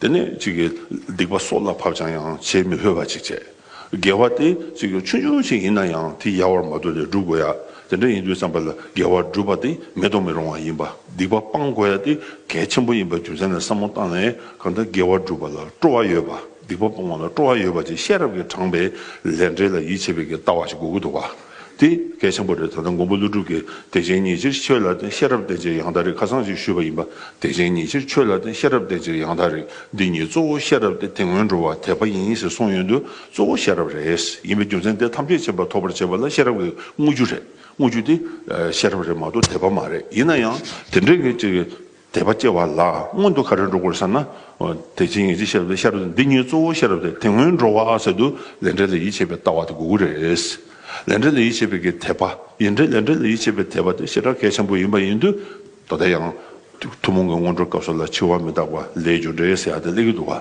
དེ་ནས་ཅིག་གིས་སྡིག་པ་སྲོག་ལ་བབ་ཅིང་ཡང་བྱེད་མི་ཕོད་པ་ཅིག་བྱས། དགེ་བ་དེ་ཅིག་ཆུང་ཆུང་ཞིག་ཡིན་ན་ཡང་དེ་ཡལ་བར་མ་དོར་ཏེ་བསྒྲུབ་དགོས་ཡ། དེ་འདྲ་ཡིན་དུས་བསམ་པ་ལ་དགེ་བ་བསྒྲུབ་པ་དེ་མེད་དུ་མི་རུང་བ་ཡིན་པ་སྡིག་པ་སྤང་དགོས་ཡ་དེ་གལ་ཆེན་པོ་ཡིན་པའི་རྒྱུ་མཚན་ལ་བསམ་བློ་བཏང་ནས་གང་ལྟར་དགེ་བ་བསྒྲུབ་པ་ལ་སྤྲོ་བ་ཡོད་པ་སྡིག་པ་སྤོང་བ་ལ་སྤྲོ་བ་ཡོད་པ་ཅིག་ཤེས་རབ་ཀྱིས་དྲངས་པའི་ལས་འབྲས་ལ་ཡིད་ཆེས་པའི་གི་ལྟ་བ་ཞིག་དགོས་ཀྱི་འདུག་ག། དེ་གལ་ཆེན་པོ་རེད་ད་ལྟ་མགོན་པོ་ཀླུ་སྒྲུབ་ཀྱིས་བདེ་ཆེན་ཉིད་ཕྱིར་ཆོས་ལ་བརྟེན་ཤེས་རབ་བརྟེན་ཅེས་ཡང་དག་རིག་ཁ་སང་ཞིག་ཞུས་པ་ཡིན་པ་བདེ་ཆེན་ཉིད་ཕྱིར་ཆོས་ལ་བརྟེན་ཤེས་རབ་བརྟེན་ཅེས་ཡང་དག་རིག་འདི་ཉིད་གཙོ་བོ་ཤེས་རབ་སྟེ་དེ་སྔོན་འགྲོ་བ་དད་པ་ཡིན་ཞེས་གསུངས་ཡོད་དུས་གཙོ་བོ་ཤེས་རབ་རེད་ཡིན་པའི་རྒྱུ་མཚན་དེ་ཐམས་ཅད་ཕྱིན་པ་ཐོབ་པར་བྱེད་པ་ལ་ཤེས་རབ་ཀྱི་དངོས་རྒྱུ་རེད་དངོས་རྒྱུ་དེ་ཤེས་རབ་རེད་མ་གཏོགས་དད་པ་མ་རེད་ཡིན་ན་ཡང་དེ་འདྲའི་གཅིག་དད་པ་སྐྱེ་བ་ལ་སྔོན་དུ་ག་རེ་འགྲོ་དགོས་ཟེར་ན། དེ་བྱིངས་ངེས་ཅན་ཤེས་རབ་དེ་ཤེས་རབ་འདི་ཉིད་གཙོ་བོ་ཤེས་རབ་དེ་དེ་སྔོན་འགྲོ་བ་ཟེར་དུས་ལས་འབྲས་ལ་ཡིད་ཆེས་པའི་ལྟ་བ་དེ་དགོས་ཀྱི་རེད། ལས་འབྲས་ལ་ཡིད་ཆེས་པའི་གི་དད་པ་ཡིན་དྲན་ལས་འབྲས་ལ་ཡིད་ཆེས་པའི་དད་པ་དེ་ཞེ་དྲག་གལ་ཆེན་པོ་ཡིན་པ་ཡིན་དུས་ད་ལྟ་ཡང། ཐུན་མོང་གི་སྔོན་འགྲོའི་སྐབས་སུ་ལ་འཆི་བ་མི་རྟག་པ་ལས་རྒྱུ་འབྲས་ཟེར་ཡག་དེ་གླེང་གི་འདུག་བ།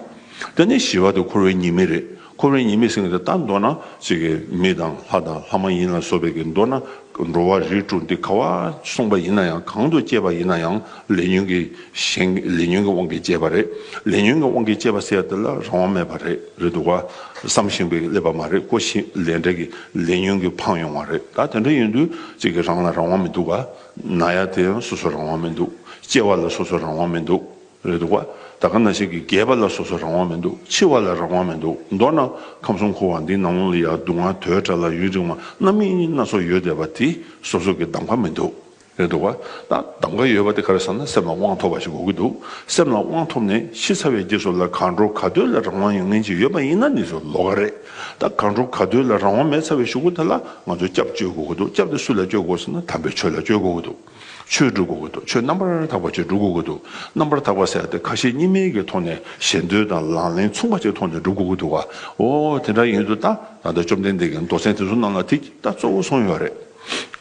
དེ་ནི་ཞི་བ་དེ་འཁོར་བའི་ཉི་མིག་རེད། འཁོར་བའི་ཉེས་མེད་སེང་གེ་དེ་ལྟར་འདོད་ན། ཅིག་གིས་མི་དང་ལྷ་དང་ལྷ་མ་ཡིན་ལ་སོགས་པའི་གིས་འདོད་ན། འགྲོ་བ་རིས་དྲུག་འདི་ག་བར་གསུངས་པ་ཡིན་ན་ཡང་གང་དུ་སྐྱེས་པ་ཡིན་ན་ཡང་ལས་ཉོན་གྱི་ཞེན། ལས་ཉོན་གྱི་དབང་གིས་སྐྱེས་པ་རེད། ལས་ཉོན་གྱི་དབང་གིས་སྐྱེས་པ་ཟེར་ཡ་དེ་ལ་རང་དབང་མེད་པ་རེད་རེད་འདུག་བ། བསམ་བཞིན་པའི་ཀླད་པ་མ་རེད་ཀོ་ཞེས་ལས་འབྲས་ཀྱི་ལས་ཉོན་གྱིས་འཕངས་ཡོང་བ་རེད་ད་དེ་འདྲ་ཡིན་དུས་ཅིག་གིས་རང་ལ་རང་དབང་མི་འདུག་བ། ན་ཡ་དེ་ཡང་སོ་སོར་རང་དབང་མི་འདུག་སྐྱེ་བ་ལ་སོ་སོར་རང་དབང་མི་འདུག། རེད་འདུག་བ། ད་ག་ན་ཞིག་གི་རྒས་པ་ལ་སོ་སོ་རང་དབང་མི་འདུག་འཆི་བ་ལ་རང་དབང་མི་འདུག་མདོར་ན་ཁམས་གསུམ་འཁོར་བ་འདིའི་ནང་ལོང་ལ་ཡང་སྡུག་བསྔལ་དོའི་དགྲ་ལ་ཡུན་རིང་བ་རྣམ་སྨིན་སྣ་ཚོགས་ཡོད་བསྡད་པ་དེ་སོ་སོ་གི་གདམ་ག་མི་འདུག་རེད་འདུག་བ། ད་གདམ་ག་ཡོད་པ་དེ་ག་རེ་ཟེར་ན་སེམས་ལ་དབང་ཐོབ་པ་ཞིག་དགོས་ཀྱི་འདུག་སེམས་ལ་དབང་ཐོབ་ནས་ཤི་ཚར་བའི་རྗེས་སུ་ལ་གང་འགྲོ་ག་འདོད་ལ་རང་དབང་ཡང་ངན་ཅིག་ཡོད་པ་ཡིན་ན་ནི་སུ་ལོ་ག་རེད་ད་གང་འགྲོ་ག་འདོད་ལ་རང་དབང་མེད་ཚར་བའི་ཞུགས་པ་དེ་ལ་ང་ཚོ་སྐྱབས་བཅོལ་དགོས་ཀྱི་འདུག་སྐྱབས་དེ་སུ་ལ་བཅོལ་དགོས་ཟེར་ན་དམ་པའི་ཆོས་ལ་བཅོལ་དགོས་ཀྱི་འདུག། ཆོས་བསྒྲུབ་དགོས་ཀྱི་འདུག་ཆོས་རྣམ་པར་དག་པ་ཅིག་བསྒྲུབ་དགོས་ཀྱི་འདུག་རྣམ་པར་དག་པ་ཟེར་ཏེ་ཁ་ཞེ་གཉིས་མེད་ཀྱི་ཐོག་ནས་ཞེ་འདོད་དང་ལག་ལེན་མཚུངས་པ་ཅིག་ཐོག་ནས་བསྒྲུབ་དགོས་ཀྱི་འདུག་ག་འོ་དེ་འདྲ་ཡིན་དུ་ད་ད་ལྟ་བཅོམ་ལྡན་འདས་ཀྱི་མདོ་ཚན་དེ་ཚོ་རྣམས་ལ་དེ་ད་གཙོ་བོ་སོང་ཡོད་རེད།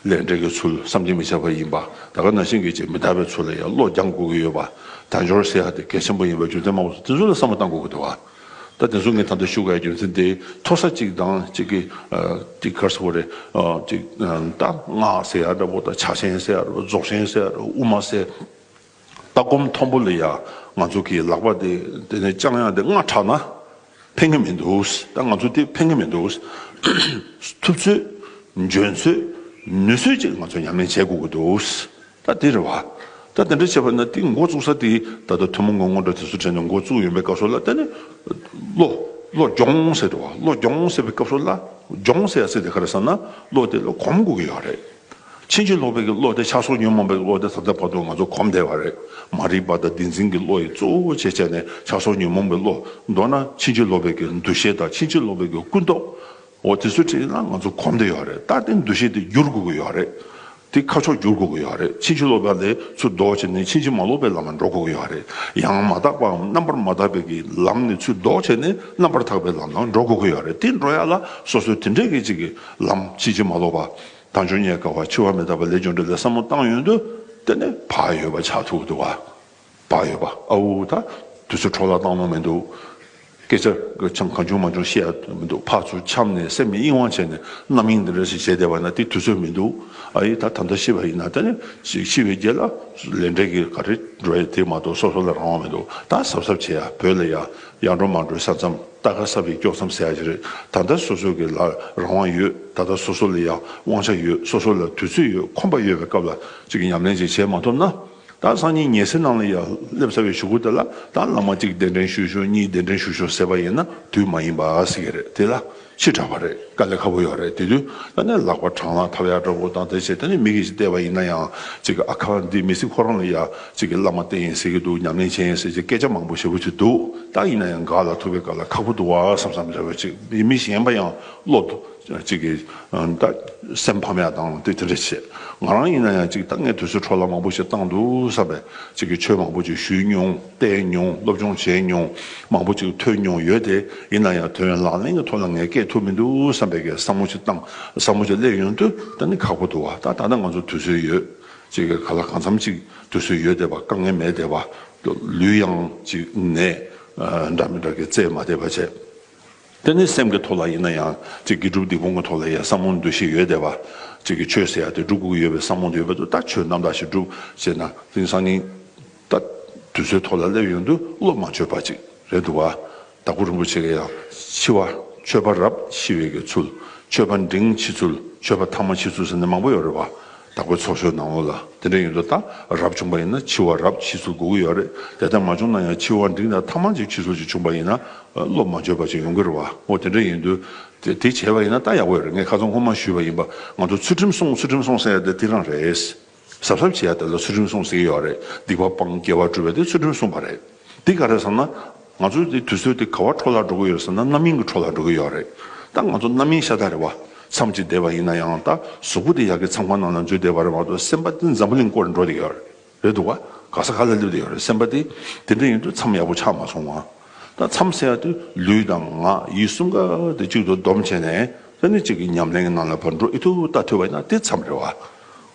ལས་འབྲས་ཀྱི་ཚུལ་བསམ་གྱིས་མི་ཁྱབ་པ་ཡིན་པ་ད་ག་ན་ཤིང་གི་རྗེས་མི་ལྟ་བའི་ཚུལ་ལ་ཡང་བློ་སྦྱང་དགོས་ཀྱི་ཡོད་པ་དལ་འབྱོར་ཟེར་ཡག་དེ་གལ་ཆེན་པོ་ཡིན་པའི་རྒྱུ་མཚན་མང་པོ་འདུག་དེ་ཚོ་ལ་བསམ་བློ་བཏང་དགོས་ཀྱི་འདུག་ག། ད་དེ་ཚོ་ངའི་ད་ལྟ་ཞུ་ག་ཡི་རྒྱུ་མཚན་དེ་མཐོ་ས་གཅིག་དང་གཅིག་གི་གཅིག་གར་ས་བོ་རེད། གཅིག་རྟ་རྔ་ཟེར་ཡ་འདྲ་བོ་དང་བྱ་ཆེན་ཟེར་ཡ་འདྲ་བོ་རྫོགས་ཆེན་ཟེར་ཡ་འདྲ་བོ་དབུ་མ་ཟེར། ལྟ་སྒོམ་མཐོན་པོ་ལ་ཡ་ང་ཚོ་གི་ལག་པ་དེ་དེ་ནས་ལྕང་ཡ་དེ་རྔ་འཁྲག་ན་ཕན་གི་མི་འདུག་ད་ང་ཚོ་དེ་ཕན་གི་མི་འདུག། ཐུབ་ཚོད་འཇོན་ཚོད་ནུས་ཚོད་ཅིག་ང་ཚོ་ཉམས་ལེན་བྱེད་དགོས་ཀྱི་འདུག། ད་དེ་རེད་བ། ད་དེ་འདྲ་བྱས་པ་ན་དེ་མགོ་བཙུགས་ས་དེ་ད་ལྟ་ཐུན་མོང་གི་དངོས་དོན་དེ་ཚོ་དྲན་ནས་མགོ་བཙུགས་ཡོད་པའི་སྐབས་སུ་ལ་ད་ནི། བློ། བློ་སྦྱོང་ཟེར་རེད་བ། བློ་སྦྱོང་ཟེར་བའི་སྐབས་སུ་ལ། སྦྱོང་ཟེར་ཡ་ཟེར་དེ་ག་རེད་བསམ་ན་བློ་དེ་ལ་གོམས་དགོས་ཀྱི་ཡོད་རེད། ཕྱིན་ཅི་ལོག་པའི་གི་བློ་དེ་ཆགས་སོགས་ཉོན་མོངས་པའི་བློ་དེ་ད་ལྟ་བར་དུ་ང་ཚོ་གོམས་བསྡད་པ་རེད། མ་རིག་པ་དང་བདེན་འཛིན་གྱི་བློ་ཡིས་གཙོ་བོ་བྱས་བྱས་ནས་ཆགས་སོགས་ཉོན་མོངས་པའི་བློ། མདོར་ན་ཕྱིན་ཅི་ལོག་པའི་གི་འདུ་ཤེས་དང་ཕྱིན་ཅི་ལོག་པའི་གི་ཀུན་རྟོག། འོ་དེ་ཚོ་བྲིས་ན་ང་ཚོ་གོམས་བསྡད་ཡོད་རེད། ད་དེ་འདུ་ཤེས་དེ་བསྒྱུར་དགོས་ཀྱི་ཡོད་རེད། དེ་ཁ་ཕྱོགས་བསྒྱུར་དགོས་ཀྱི་ཡོད་རེད་ཕྱིན་ཅི་ལོག་པ་ལས་ཚུར་ལྡོག་བྱས་ནས་ཕྱིན་ཅི་མ་ལོག་པའི་ལམ་ལ་འགྲོ་དགོས་ཀྱི་ཡོད་རེད་ཡང་མ་དག་པའམ་རྣམ་པར་མ་དག་པའི་གི་ལམ་ནས་ཚུར་ལྡོག་བྱས་ནས་རྣམ་པར་དག་པའི་ལམ་ལ་འགྲོ་དགོས་ཀྱི་ཡོད་རེད་དེ་འགྲོ་ཡ་ལ་སོ་སོའི་དེ་འདྲའི་གི་ཅིག་གི་ལམ་ཕྱིན་ཅི་མ་ལོག་པ་དང་འབྱུང་ཉེས་དཀའ་བ་འཆི་བ་མི་རྟག་པ་ལས་བྱུང་འདི་ལས་བསམ་བློ་བཏང་ཡོད་འདུག་དེ་ནི་བག་ཡོད་པ་ཆགས་ཐུག་འདུག་བ། བག་ཡོད་པ་ཨ་ཨུ་ད་དུས་ཚོད་འཕྲོག་ལ་སྟངས་ནོར་མི་འདུག་སྐད་ཆ་འཆམ་གང་བྱུང་མ་བྱུང་བཤད་ཡ་མི་འདུག་ཕར་ཚུར་འཆམ་ནས་སེམས་ཀྱི་གཡེང་བ་བྱས་ནས་རྣམ་གཡེང་འདི་འདྲ་ཞིག་བྱས་བསྡད་པ་ན་དེ་དུས་ཚོད་མི་འདུག་ཨ་ཡེ་ད་ད་ལྟ་ཤི་བ་ཡིན་ན་ད་ནི་ཤི་བའི་རྗེས་ལ་ལས་འབྲས་ཀྱི་ག་རེ་འགྲོ་ཡ་དེ་མ་གཏོགས་སོ་སོ་ལ་རང་དབང་མི་འདུག་ད་གཟབ་གཟབ་བྱས་ཡ་བོད་ལ་ཡ་ཡ་འགྲོ་མ་འགྲོའི་ས་མཚམས་ལྟ་ག་ས་བས་དཀྱོག་མཚམས་ཟེར་ཡ་ཞིག་རེད་ད་ལྟ་སོ་སོ་གི་ལ་རང་དབང་ཡོད་ད་ལྟ་སོ་སོ་ལ་ཡ་དབང་ཆ་ཡོད་སོ་སོ་ལ་དུས་ཚོད་ཡོད་ཁོམ་པ་ཡོད་པའི་སྐབས་ལ་གཅིག་ཉམས་ལེན་ཅིག་བྱས་མ་ཐུབ་ན། ད་སང་ཉིན་ཉལ་སའི་ནང་ལ་ཡར་སླེབས་ཚར་བའི་ཞུ་སྒོ་དེ་ལ་ད་ལག་མ་གཅིག་གདན་འདྲེན་ཞུས་ཞོར་གཉིས་གདན་འདྲེན་ཞུས་ཞོར་ཟེར་བ་ཡིན་ན་དུས་མ་ཡིན་པ་ཟེར་གྱི་རེད་དེ་ལ་ཕྱིར་དྲགས་པ་རེད་དཀའ་ལས་ཁ་བོ་ཡོད་རེད་དེ་དུས་ད་ནས་ལག་པ་བྲང་ལ་ཐབ་ཡར་འདྲ་བོ་དང་དེ་བྱས་དེ་ནས་མིག་གིས་བལྟས་པ་ཡིན་ན་ཡང་གཅིག་གི་ཨ་ཁ་བ་འདི་མི་སྲིད་ཁོ་རང་ལ་ཡར་གཅིག་གི་བླ་མ་བསྟེན་ཡིན་ཟེར་གྱི་འདུག་ཉམས་ལེན་བྱེད་ཡིན་ཟེར་གྱི་སྐད་ཆ་མང་པོ་བཤད་ཕོད་ཀྱི་འདུག་ད་ཡིན་ན་ཡང་འགག་ལ་ཐུག་པའི་སྐབས་ལ་ཁག་པོ་འདུག་བ་བསམ་བསམ་རེ་བ་ཅིག་མི་གཞན་པ་ཡང་བློ་གཅིག་གིས། སེམས་ཕམ་ཡག་བཏང་དེ་དེ་འདྲ་བྱས། ང་རང་ཡིན་ན་ཡང་གཅིག་ད་སྔའི་དུས་ཚོད་འཕྲོ་བརླག་མང་པོ་ཞིག་བཏང་འདུག་བསམ་པས་གཅིག་གིས་ཆོས་མང་པོ་ཅིག་ཞུས་མྱོང་བལྟས་མྱོང་སློབ་སྦྱོང་བྱས་མྱོང་མང་པོ་ཅིག་ཐོས་མྱོང་ཡོད་དེ་ཡིན་ན་ཡང་དོན་ཡོད་ལག་ལེན་གྱི་ཐོག་ལ་ངས་བསྐྱེད་ཐུབ་མི་འདུག་བསམ་པས་བསམ་བློ་ཅིག་བཏང་བསམ་བློ་ཅིག་སླེབས་ཡོང་དུས་ད་ནི་ཁག་པོ་འདུག་བ་ད་ད་ལྟ་ང་ཚོར་དུས་ཚོད་ཡོད་གཅིག་གིས་ག་ལ་གང་འཚམ་ཅིག་དུས་ཚོད་ཡོད་བལྟས་པ་དཀའ་ངལ་མེད་བལྟས་པ། ལུས་ཡང་གཅིག་ནད་འདྲ་མི་འདྲ་གིས་བཙས་མ་བལྟས་པ་བྱས། དེ་ནི་སེམས་ཀྱི་ཐོག་ལ་ཡིན་ན་ཡང། སྒྲུབ་སྡིག་སྤོང་གི་ཐོག་ལ་ཡང་བསམ་བློ་འདུ་ཤེས་ཡོད་བསྡད་པ། ཆོས་ཟེར་ཡ་དེ་སྒྲུབ་དགོས་ཀྱི་ཡོད་པའི་བསམ་བློ་འདི་ཡོད་པ་དུ་ལྟ་ཆོས་རྣམ་དག་ཞིག་སྒྲུབ་ཅེ་ན་དེང་སང་ཉིན་ལྟ་དུས་ཚོད་ཐོག་ལ་སླེབས་ཡོང་དུས་བློ་མ་བཅོས་པ་ཅིག་རེད་འདུག་བ། དྭགས་པོ་རིན་པོ་ཆེ་གི་ཡང་ཕྱི་བ། ཆོས་པ་རབས་ཤི་བའི་གི་ཚུལ། ཆོས་པ་འབྲིང་ཕྱི་ཚུལ། ཆོས་པ་ཐ་མ་ཕྱི་ཚུལ་ཟེར་ནི་མང་པོ་ཡོད་རེད་བ། བདག་པོའི་ཚོགས་ཤོར་ནའོ་ལ་དེ་འདྲ་ཡིན་དུ་ད་རབ་བྱུང་པ་ཡིན་ན་འཆི་བ་རབ་འཆི་ཟུར་དགོས་ཀྱི་ཡོད་རེད་དེ་ལྟར་མ་བྱུང་ན་ཡང་འཆི་བ་འབྲིང་དང་ཐ་མང་ཅིག་འཆི་ཟུར་ཅིག་བྱུང་པ་ཡིན་ན་བློ་མ་འགྱོད་པ་ཅིག་ཡོང་གི་རེད་བ་ཨོ་དེ་འདྲ་ཡིན་དུ་དེ་བྱས་པ་ཡིན་ན་ད་ཡག་པོ་ཡོད་རེད་ངས་ཁ་ཚོན་ཁོ་མ་ཞུས་པ་ཡིན་པ་ང་ཚོ་ཚུལ་ཁྲིམས་སྲུང་ཚུལ་ཁྲིམས་སྲུང་ཟེར་ཡ་དེ་དེ་རང་རེད་ཟབ་ཟབ་བྱས་ཡ་དེ་ལ་ཚུལ་ཁྲིམས་སྲུང་ཟེར་གྱི་ཡོད་རེད་སྡིག་པ་སྤང་སྐྱེ་བ་སྒྲུབ་པ་དེ་ཚུལ་ཁྲིམས་སྲུང་བ་རེད། འདི་ག་རེད་ཟེར་ན། ང་ཚོ་དེ་དུས་ཚོད་དེ་ག་བ་འཕྲོ་བརླག་འགྲོ་གི་ཡོད་ཟེར་ན་རྣམ་གཡེང་གི་འཕྲོ་བརླག་འགྲོ་གི་ཡོད་རེད། ད་ང་ཚོ་རྣམ་གཡེང་ཤ་སྟག་རེད་བ། མཚམས་གཅིག་བསྡད་པ་ཡིན་ན་ཡང་ད་གཟུགས་པོ་དེ་ཡག་གི་མཚམས་ཁང་ནང་ན་འཛུལ་བསྡད་པ་རེད་མ་གཏོགས་སེམས་པ་དེ་འཛམ་བུ་གླིང་སྐོར་འགྲོ་བསྡད་ཡོད་རེད་རེད་འདུག་བ། ག་ས་ག་ལ་སླེབས་བསྡད་ཡོད་རེད་སེམས་པ་དེ། དེ་འདྲ་ཡིན་དུས་མཚམས་ཡག་པོ་ཆགས་མ་སོང་བ། ད་མཚམས་བསལ་དུས་ལུས་དང་ངག་ཡིད་གསུམ་ག་དེ་གཅིག་ཏུ་བསྡོམས་བྱས་ནས་ས་གནས་གཅིག་གི་ཉམས་ལེན་གྱི་ནང་ལ་བར་འགྲོ་ཨེ་ཐུབ་ད་ཐུབ་བ་ཡིན་ན་དེ་མཚམས་རེད་བ།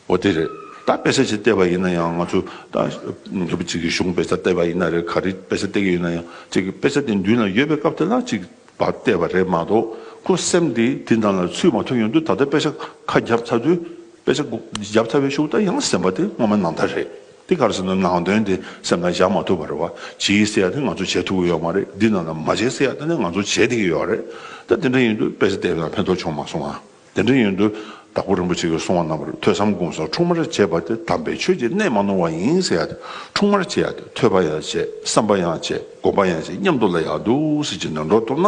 འོ་དེ་རེད། ད་དཔེ་ཆ་ཞིག་བལྟས་པ་ཡིན་ན་ཡང་ང་ཚོ་ད་ནུས་པ་གཅིག་གིས་གཞུང་དཔེ་ཆ་བལྟས་པ་ཡིན་ན་རེད་ག་རེ་དཔེ་ཆ་བལྟས་ཀྱི་ཡོད་ན་ཡང་ཅིག་དཔེ་ཆ་དེ་མདུན་ལ་ཡོད་པའི་སྐབས་དེ་ལ་ཅིག་བ་བལྟས་པ་རེད་མ་གཏོགས་ཁོ་སེམས་དེ་དེ་དང་ལ་ཚུད་མ་ཐུབ་ཡོང་དུས་ད་ལྟ་དཔེ་ཆ་ཁ་བརྒྱབ་ཚར་དུས་དཔེ་ཆ་བརྒྱབ་ཚར་བའི་ཤུགས་ད་ཡང་སེམས་པ་དེ་སྔོན་མ་ནང་ད་རེད་དེ་ག་རེ་ཟེར་ན་ནང་དོན་དེ་སེམས་ལ་བཞག་མ་ཐུབ་པ་རེད་བ་བྱིས་ཟེར་ཡག་དེ་ང་ཚོ་བྱེད་ཐུབ་ཀྱི་ཡོད་མ་རེད་འདི་རྣམས་ལ་མ་བྱེད་ཟེར་ཡག་ད་ནི་ང་ཚོ་བྱེད་བསྡད་ཀྱི་ཡོད་རེད་ད་དེ་འདྲ་ཡིན་དུས་དཔེ་ཆ་བལྟས་ན་ཕན་ཐོགས་བྱུང་མ་སོང་ང། དེ་འདྲ་ཡོན་དུ་དྭགས་པོ་རིན་པོ་ཆེ་གིས་གསུང་བ་རྣམས་པར་ཐོས་བསམ་སྒོམ་སོགས་འཁྲུངས་མར་བྱས་པ་དེ་དམ་པའི་ཆོས་ཀྱི་གནས་མ་ནོར་བ་ཡིན་ཟེར་ཡ་དེ་འཁྲུངས་མར་བྱས་ཡ་དེ་ཐོས་པ་ཡང་བྱས་བསམ་པ་ཡང་བྱས་སྒོམ་པ་ཡང་བྱས་སྙམ་དུ་ལ་ཡག་འདུག་ཟེར་གྱི་ནོན་འགྲོ་ཐུབ་ན་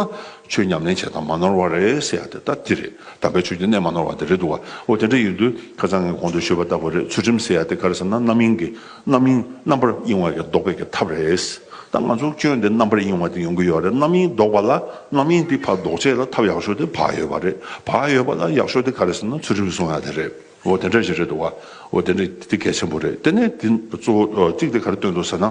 ཆོས་ཉམས་ལེན་བྱས་དང་མ་ནོར་བ་རེད་ཟེར་ཡ་དེ་ལྟ་དེ་རེད་དམ་པའི་ཆོས་ཀྱི་གནས་མ་ནོར་བ་དེ་རེད་འདུག་བ་འོ་དེ་འདྲ་ཡོན་དུ་ཁ་ཚང་ངས་གོང་དུ་ཤོད་པ་ལྟ་བུ་རེད་ཚུལ་ཁྲིམས་ཟེར་ཡ་དེ་ག་རེ་ཟེར་ན་རྣམ་གཡེང་གི་རྣམ་གཡེང་རྣམ་པར་གཡེང་བ་ཀྱང་ཟློག་པའི་ཀྱི་ཐབས་རེད། ད་ང་ཚོར་སྐྱོན་དེ་རྣམ་པར་གཡེང་བ་དེ་ཡོང་གི་ཡོད་རེད་རྣམ་གཡེང་ཟློག་པ་ལ་རྣམ་གཡེང་དེ་བར་ཟློག་བྱེད་ལ་ཐབས་ཡག་ཤོས་དེ་བག་ཡོད་པ་རེད་བག་ཡོད་པ་ལ་ཡག་ཤོས་དེ་ག་རེད་ཟེར་ན་ཚུལ་ཁྲིམས་སྲུང་ཡ་དེ་རེད་འོ་དེ་འདྲ་ཞིག་རེད་འདུག་བ་འོ་དེ་འདྲ་དེ་གལ་ཆེན་པོ་རེད་དེ་ནས་དེ་གཙོ་བོ་གཅིག་དེ་ག་རེ་སྟོན་འདུག་ཟེར་ན།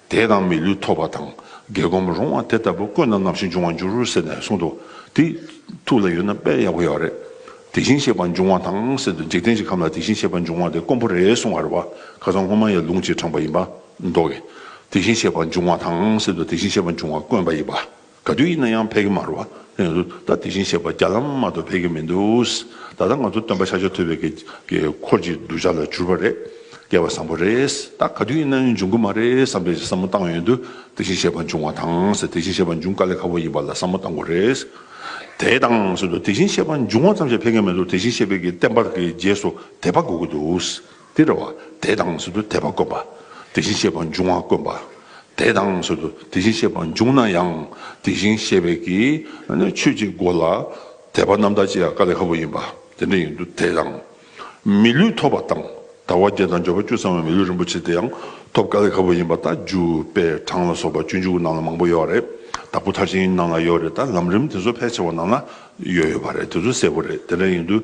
དེ་དང་མི་ལུས་ཐོབ་པ་དང་རྒྱལ་སྒོམ་རུང་བ་དེ་ལྟ་བུ་བཀོད་ན་ནམ་ཞིག་འབྱུང་བ་འགྱུར་རོ་ཟེར་ནས་གསུངས་སྟོ། དེ་ཐུགས་ལ་ཡོད་ན་དཔེར་ཡག་པོ་ཡོད་རེད། དེ་བཞིན་གཤེགས་པ་འབྱུང་བ་དང་ཟེར་དུས་འཇིག་རྟེན་གྱི་ཁམས་ལ་དེ་བཞིན་གཤེགས་པ་འབྱུང་བ་དེ་དཀོན་པོ་རེད་གསུང་བར་བ་ག་ཚང་སྔོན་མ་ཡི་ལུང་གཅིག་དྲངས་པ་ཡིན་པ་མདོག་གིས་དེ་བཞིན་གཤེགས་པ་འབྱུང་བ་དང་ཟེར་དུས་དེ་བཞིན་གཤེགས་པ་འབྱུང་བ་དཀོན་པ་ཡིན་པ། ག་དུས་ཡིན་ན་ཡང་ཕེབས་ཀྱི་མ་རུ་ཨ། ད་དེ་བཞིན་གཤེགས་པ་བརྒྱ་ལམ་མ་གཏོགས་ཕེབས་ཀྱི་མི་འདུག་ད་ལྟ་ང་ཚོ་སྟོན་པ་ཤཱ་ཀྱ་ཐུབ་པའི་འཁོར་གྱི་གདུལ་བྱ་ལ་གྱུར་པ་རེད། སྐལ་བ་བཟང་པོ་རེད། ད་ག་དུས་ཡིན་ན་འབྱུང་གི་མ་རེད་བསམ་པའི་བསམ་བློ་བཏང་ཡོད་དུས་དེ་བཞིན་གཤེགས་པ་འབྱུང་བ་དང་ཟེར་དེ་བཞིན་གཤེགས་པ་འབྱུང་དཀའ་ལས་ཁག་པོ་ཡིན་པ་ལ་བསམ་བློ་བཏང་དགོས་རེད། དེ་དང་ཟེར་དུས་དེ་བཞིན་གཤེགས་པ་འབྱུང་བ་ཙམ་ཞིག་ཕེབས་ཀྱི་མི་འདུག་དེ་བཞིན་གཤེགས་པའི་བསྟན་པ་དེ་རྗེས་སུ་དེད་པ་དགོས་ཀྱི་འདུག། འདིར་བ་དེ་དང་ཟུར་དུ་དད་པ་དཀོན་པ་དེ་བཞིན་གཤེགས་པ་འབྱུང་བ་དཀོན་པ་དེ་དང་ཟུར་དུ་དེ་བཞིན་གཤེགས་པ་འབྱུང་ན་ཡང་དེ་བཞིན་གཤེགས་པའི་ཀྱི་ཆོས་ཀྱི་སྒོ་ལ་དད་པ་རྣམ་དག་ཅེས་ཀ་ལི་ཧ་བུ་ཡིན་པ་དེ་འདྲ་ཡིན་དུ་དེ་དང། མི་ལུས་ཐོབ་པ་དང་དང་བ་བརྒྱད་དང་སྦྱོར་བ་བཅུ་ཚང་བའི་མི་ལུས་རིན་པོ་ཆེ་དེ་ཡང་ཐོབ་ཀ་ལི་ཧ་བུ་ཡིན་པ་ད་རྒྱུ་དཔེ་གྲངས་ལ་སོགས་པ་བཅུ་འཇུག་ནང་ལ་མང་པོ་ཡོད་རེད་ད་བུ་ཐ་ཤིང་ནང་ལ་ཡོད་རེད་ད་ལམ་རིམ་དེ་ཚོ་ཕལ་ཆེ་བ་ནང་ལ་ཡོད་ཡོད་པ་རེད་དེ་ཚོ་གསལ་པོ་རེད་དེ་འདྲ་ཡིན་དུ་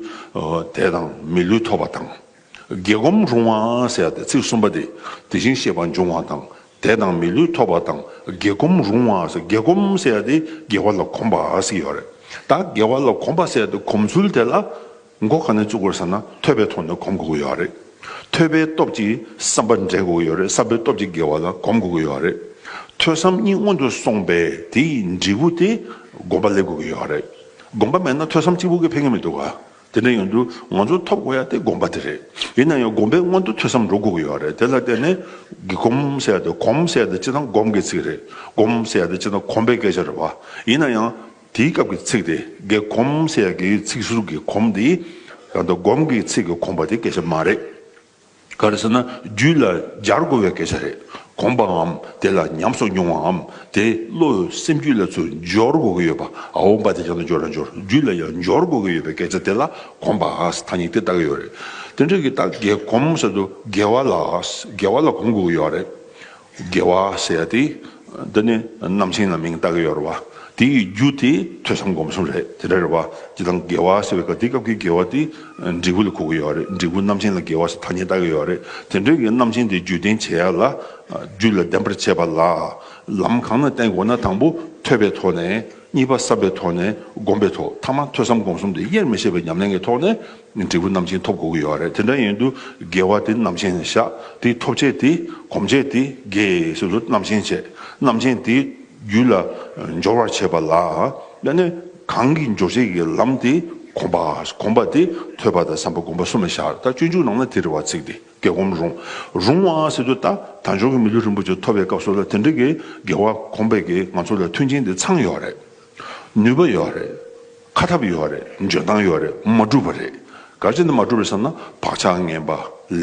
དེ་དང་མི་ལུས་ཐོབ་པ་དང། རྒྱལ་སྒོམ་རུང་བ་ཟེར་ཏེ་ཚིག་གསུམ་པ་དེ་དེ་བཞིན་ཤེས་པ་འབྱུང་བ་དང་དད་དང་མི་ལུས་ཐོབ་པ་དང་རྒྱལ་སྒོམ་རུང་བ་ཟེར་རྒྱལ་སྒོམ་ཟེར་ཏེ་རྒྱལ་བ་ལ་གོམས་པ་ཟེར་ཡོད་རེད་ད་རྒྱལ་བ་ལ་གོམས་པ་ཟེར་ཏེ་གོམས་ཚུལ་དེ་ལ་མགོ་ག་ནས་བཙུགས་དགོས་ཟེར་ན་ཐོས་པའི་ཐོག་ནས་གོམས་དགོས་ཀྱི་ཡོད་རེད་ཐོས་པའི་སྟོབས་ཀྱིས་བསམ་པ་འདྲེན་དགོས་ཀྱི་ཡོད་རེད་བསམ་པའི་སྟོབས་ཀྱིས་རྒྱལ་བ་ལ་གོམས་དགོས་ཀྱི་ཡོད་རེད་ཐོས་བསམ་གཉིས་སྔོན་དུ་སོང་པས་དེའི་འབྲས་བུ་དེ་སྒོམ་པ་སླེབས་དགོས་ཀྱི་ཡོད་རེད་སྒོམ་པ་མེད་ན་ཐོས་བསམ་གཅིག་པུ་གིས་ཕན་གྱི་མི་འདུག་ག། དེ་འདྲ་ཡོང་དུས་ང་ཚོ་ཐོབ་དགོས་ཡ་དེ་དགོངས་པ་དེ་རེད། ཡིན་ན་ཡང་དགོངས་པའི་སྔོན་དུ་ཐོས་བསམ་འགྲོ་དགོས་ཀྱི་ཡོད་རེད་དེ་ལ་བརྟེན་ནས། གི་གོམ་ཟེར་ཡ་དེ་གོམ་ཟེར་ཡ་དེ་སྤྱིར་བཏང་གོམ་གྱི་ཚིག་རེད། སྒོམ་ཟེར་ཡ་དེ་སྤྱིར་བཏང་གོམ་པའི་སྐད་ཆ་རེད་བ། ཡིན་ན་ཡང། དེའི་སྐབས་ཀྱི་ཚིག་དེ་གི་གོམ་ཟེར་ཡ་གི་ཚིག་ཟུར་གྱི་གོམ་དེ། ཡང་དགོངས་ཀྱི་ཚིག་གི་གོམ་པ་དེ་སྐད་ཆ་མ་རེད། ག་རེ་ཟེར་ན་རྒྱུད་ལ་སྦྱར་དགོས་པའི་སྐད་ཆ་རེད་དགོངས་པའམ་དེ་ལ་ཉམས་སོགས་མྱོང་བའམ་དེ་བློ་འོད་སེམས་རྒྱུད་ལ་ཚུར་འབྱོར་དགོས་ཀྱི་ཡོད་པ་འོང་པ་དེ་ཅང་ཏུ་འབྱོར་ན་འབྱོར་རྒྱུད་ལ་ཡང་འབྱོར་དགོས་ཀྱི་ཡོད་པའི་སྐད་ཆ་དེ་ལ་དགོངས་པ་ཨཱས་ཐ་སྙིགས་དེ་ལྟ་གི་ཡོད་རེད་དེ་འདྲ་གི་ལྟ་གི་གོམས་སོ་དུ་དགེ་བ་ལ་དགེ་བ་ལ་གོམས་དགོས་ཀྱི་ཡོད་རེད་དགེ་བ་ཞེས་བྱ་སྟེ། འདི་ནི་རྣམ་མཁྱེན་ལ་མིང་བཏགས་ཡོད་རེད་བ། དེ་ཡི་རྒྱུ་དེ་ཐོས་བསམ་སྒོམ་གསུམ་རེད་དེ་འདྲ་རེད་བ། དེ་དང་དགེ་བ་ཞེས་པའི་དེ་སྐབས་ཀྱི་དགེ་བ་དེ་འབྲས་བུ་ལ་གོ་གི་ཡོད་རེད་འབྲས་བུ་རྣམ་མཁྱེན་ལ་དགེ་བ་ཞེས་ཐ་སྙད་བཏགས་ཀྱི་ཡོད་རེད་དེ་འདྲའི་རྣམ་མཁྱེན་དེ་རྒྱུད་བསྟན་བྱེད་ཡ་ལ། རྒྱུད་ལ་ལྡན་པར་བྱེད་པ་ལ། ལམ་གང་ན་བསྟན་དགོས་ན་དང་པོ་ཐོས་པའི་ཐོག་ནས་གཉིས་པ་བསམ་པའི་ཐོག་ནས་སྒོམ་པའི་ཐོག་མཐའ་མ་ཐོས་བསམ་སྒོམ་གསུམ་དེ་དབྱེར་མི་ཕྱེད་པའི་ཉམས་ལེན་གྱི་ཐོག་ནས་འབྲས་བུ་རྣམ་ཅན་ཐོབ་དགོས་ཀྱི་ཡོད་རེད་དེ་འདྲ་ཡིན་དུས་དགེ་བ་དེ་རྣམ་ཅན་བཞག་དེའི་ཐོབ་བྱེད་དེ་གོམས་བྱེད་དེ་དགེ་སོ་སོ་རྣམ་ཅན་བྱེད་རྣམ་ཅན་དེའི་རྒྱུད་ལ་འབྱོར་བར་བྱེད་པ་ལ་ཡང་ནི་གང་གིས་འབྱོར་བྱེད་ཀྱི་ལམ་དེ་གོམས་པ་གོམས་པ་དེ་ཐོས་པ་དང་བསམ་པ་བསྒོམ་པ་གསུམ་ལ་བཞག་ད་སྤྱོད་འཇུག་ནང་ན་དེ་རེ་བ་ཚིག་དེ་དགེ་གོམས་རུང་རུང་བ་སྲིད་དུ་ད་དར་འབྱོར་གྱི་མི་ལུས་རིན་པོ་ཆེ་ཐོབ་པའི་སྐབས་སུ་ལ་དེ་འདྲ་གི་དགེ་བ་གོམས་པའི་གི་ང་ཚོ་ལ་མཐུན་རྐྱེན་དེ་ཚང་ཡོད་རེད་ནུས་པ་ཡོད་རེད། ཁ་ཐབས་ཡོད་རེད་འཇོན་ཐང་ཡོད་རེད་མ་འགྲུབ་པ་རེད་ག་ཅི་འདི་མ་འགྲུབ་རེད་བསམ་ན་བག་ཆགས་ངན་པ་